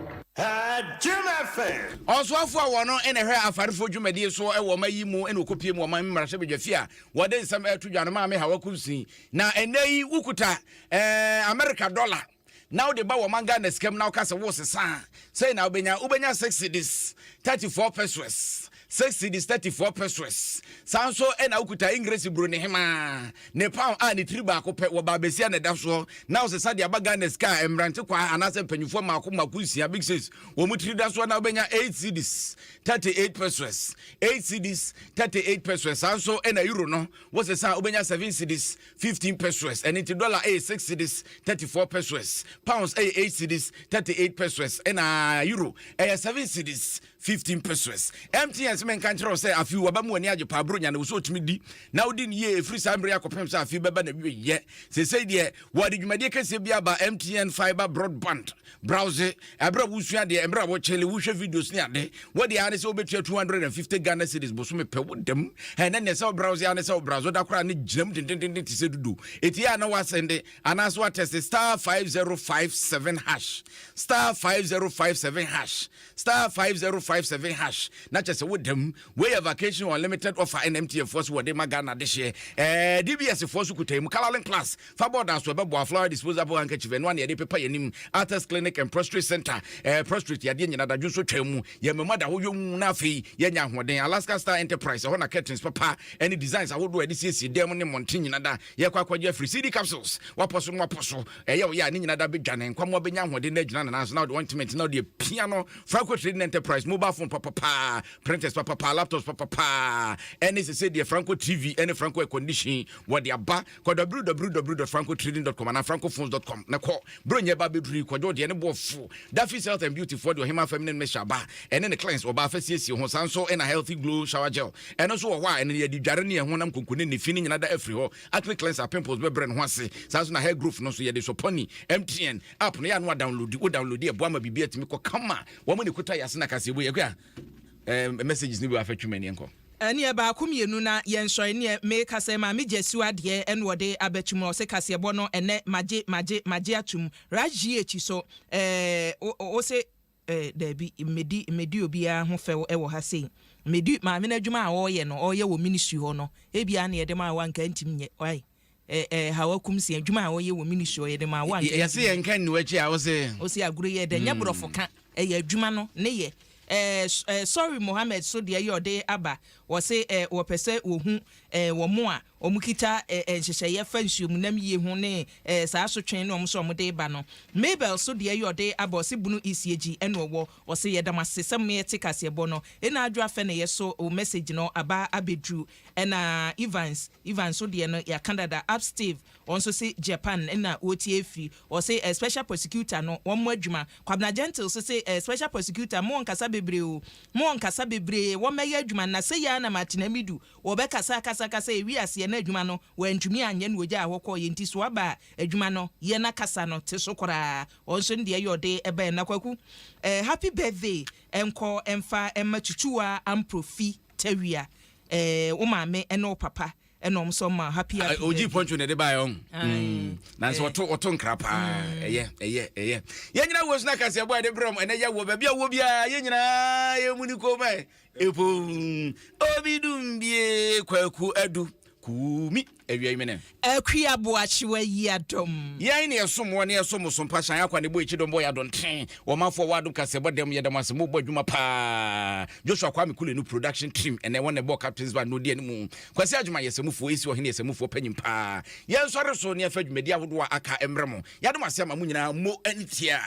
Ɔsoafo a ɔno na ɛhwɛ afarefo dwumadi so wɔ ɔman yi mu na ɔkɔpue mu wɔ ɔman mmarahyɛbadwafie a wɔde nsɛm reto dwa no, Maame Hawa Kunsin. Na ɛnnɛ yi wokuta ɛɛ Amerika dɔla. na wode ba wɔman Ghana sika mu na woka sɛ woresesa a, sɛn na wobɛnya? Wobɛnya six cedis, thirty four pesewas, six cedis, thirty four pesewas. Saa nso na wokuta Engiresi Buronehemaa, ne pound a ne tiri baako pɛ wɔ baabasia na ɛda soɔ, na wosesa de aba Ghana sika a mmerante kwaa anaasɛ mpanyinfoɔ mmaako mmaako nsia, big six, wɔn tiri da soɔ na wobɛnya eight cedis, thirty eight pesewas, eight cedis, thirty eight pesewas. Saa nso na Euro no, wosesa a wobɛnya seven cedis, 15 pesewas, ɛno nti dollar ɛyɛ 6 cedis 34 pesewas, pounds ɛyɛ 8 cedis 38 pesewas, ɛna euro ɛyɛ 7 cedis 15 pesewas. MTN sɛ menka nkyerɛ wo sɛ afe wɔba mu ani agye paa buro nya ne wo sɛ ɔtumi di na wodi no yie ɛfiri saa mmerɛ akɔpem sɛ afe bɛba na wieyɛ. Sesei deɛ wɔde dwumadie kɛseɛ bi aba MTN Fiber Broadband Browse, ɛberɛ a wosua adeɛ, ɛberɛ a wɔkyɛle, wohwɛ videos ne ade. Wode ara ne sɛ wobɛtua 250 Ghana cedis bosome pɛ wo dam. Ɛnɛ neɛ sɛ wo browse ara ne sɛ wo browse woda koraa ne gyinam dendendenden te sɛ dudu. Ɛtie a na woasɛnde anaasɛ woatɛste star 5057 hash star 5057 hash Star five zero five seven hash na kyɛ sɛ woda mu. Wei yɛ vacation unlimited offer ɛna MTN foɔ so wɔde ma Ghana dehyeɛ. Ɛɛ DBS foɔ so kuta mu. Colouring class fa bɔɔd aso ɛbɛboa flower disposable handkerchief ɛnoa na yɛde pepa yɛn anim. Arthur's clinic and prostrate center ɛɛ prostrate yadeɛ nyina dadwo nso twaa mu. Yɛn mmamu ada hɔ yonn na afei yɛanya ahoɔden. Alaska Star Enterprise ɛhɔ na curtains papa ɛne designs ahodoɔ a yɛde siesie dan mu ne mmɔnten nyina da. Yɛkɔ akɔgye afiri CD capsules wapɔ so no wapɔ so. Ɛyɛ ɔyɛ a, ne nyina da bɛdwa ne nkwammoa bɛnya ahoɔden na agyina no nan so na ɔde wɔn ntoma nti na ɔde apia no fa akɔ Trading Enterprise, mobile phone papapaa, printers papapaa, laptops papapaa, ɛne sesei deɛ Franco TV ɛne Franco Air Condition wɔde aba. Kɔ www.francotrading.com anaa francophones.com na kɔ. Berɛ ɔnya ba bɛduru yi, kwadwo deɛ ne boɔ fo. Daffy's Health and Beauty foɔ de Ɔhemaa Feminine Mixture aba, ɛne ne cleanse ɔbaa fa siesie ho, saa nso na Healthy Glow Shower Gel, ɛno nso wɔ hɔ a ɛno yɛde dware ne yɛn honam konkonne ne fi no nyina da afiri hɔ. Acne cleanser pimples bɛbrɛ ne ho ase. Saa nso na hair growth no nso yɛde Soponi MTN app no yɛ a na wadownloadi. Wo downloadi a ɛboa ma biribiara tumi kɔ kama. Wɔn na ɛkuta yɛn ase na kaseɛbɔ yi. Akua, eh, messages no bi wɔ ha fa twi m'ani nkɔ. Ɛneɛ baako mmienu na yɛnsɔ ɛneɛ me kasa yi maame gyasiw adeɛ ɛna ɔde abɛtum ɔse kaseɛbɔ no ɛnɛ magye magye magye atum rajh so ɛɛ wose Eh, dabi, mmedi, mmedi obiara ho fɛw wɔ ha sei. Mmedi maame no adwuma a ɔreyɛ no, ɔreyɛ wɔ ministry hɔ no. Ebia na yɛde maa wo a anka antumi nyɛ. Wai? Eh, eh, Haw Akumsi, adwuma a ɔreyɛ wɔ ministry hɔ, yɛde maa wo a anka antumi nyɛ. Yɛse yɛnka nni w'akyi a, wose. Wose agorɔ yi ɛdɛ, nyɛ borɔfo ka, ɛyɛ adwuma no ne yɛ. Eh, eh, sorry Mohammed so deɛ yɛ ɔde aba, Wɔse wɔpɛ sɛ wɔhu wɔn a wɔkita nhyehyɛeɛ fa nsuomunam yie ho ne saa asotwee no a wɔse wɔde reba no. Mabel so deɛ yɛ ɔde aba ɔse bunu isiegyi ɛna ɔwɔ. Ɔse yɛda mo ase sɛ moɛte kaseɛbɔ no ɛna adwo afɛ na yɛso wo message no aba abɛduru ɛna Evans Evans so deɛ no yɛaka dada up Steve Wɔn nso se Japan na wɔretie firi. Wɔse eh special prosecutor no wɔmmɔ adwuma. Kwabena Gentile nso se eh special prosecutor mo nkasa bebree o, mo nkasa bebree, wɔmmɛyɛ adwuma na sei ara na Martina Midu wɔbɛkasa akasa akasa ɛwii aseɛ na adwuma no wɔantumi anyɛ na wɔgyaa hɔ kɔeɛ nti so aba a adwuma no yɛ na kasa no te so koraa. Wɔn nso ne deɛ yɛ ɔde baɛ na Kwaku eh happy birthday nkɔ mfa mma Twitwiwaa Amprofi Tawia eh wo maame ne wo papa ɛna ɔmo sɔ ma happy happy birthday ogyi pɔnkye na ɛde baayɛ ɔn mm. nanso ɔto eh. ɔto nkra paa mm. ɛyɛ ɛyɛ ɛyɛ yɛn nyinaa wɔ suna kaseɛ bɔ a yɛde brɛ ɔmo ɛnɛ yɛ wɔ baabi a wɔ biara yɛn nyinaa yɛ mu ni kɔn mu ɛ epo obi dum bie kwaku adu kuumi awia imene akua boakyewa yi adom yɛn ne ɛsom wɔ ne ɛsom so mpa hyɛn akwa ne bɔ akyi dɔm bɔ yɛ adonten wɔmafoɔ wɔ adom kasɛ bɔ dɛm yɛ dɛm ase mobɔ adwuma paa joshua kwame kule no production team ɛnɛ wɔn na ɛbɔ captains band no odi anim Kwasi Adwuma yɛ Samufoɔ Esi Ɔhene yɛ Samufoɔ panyin paa Yɛnsɔre so na yɛmfa dwumadi ahodoɔ a aka mmrɛ mo Yɛadom ase ama mo nyinaa Mo ani tia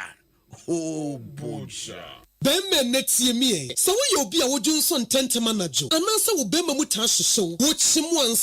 Hoo Bogya. Barima nnɛ tie me ɛ, sɛ woyɛ obi a wodwonsɔ ntɛntɛm anadwo anaasɛ wo barima mu taa hyehye wo, wokyem wo ansa.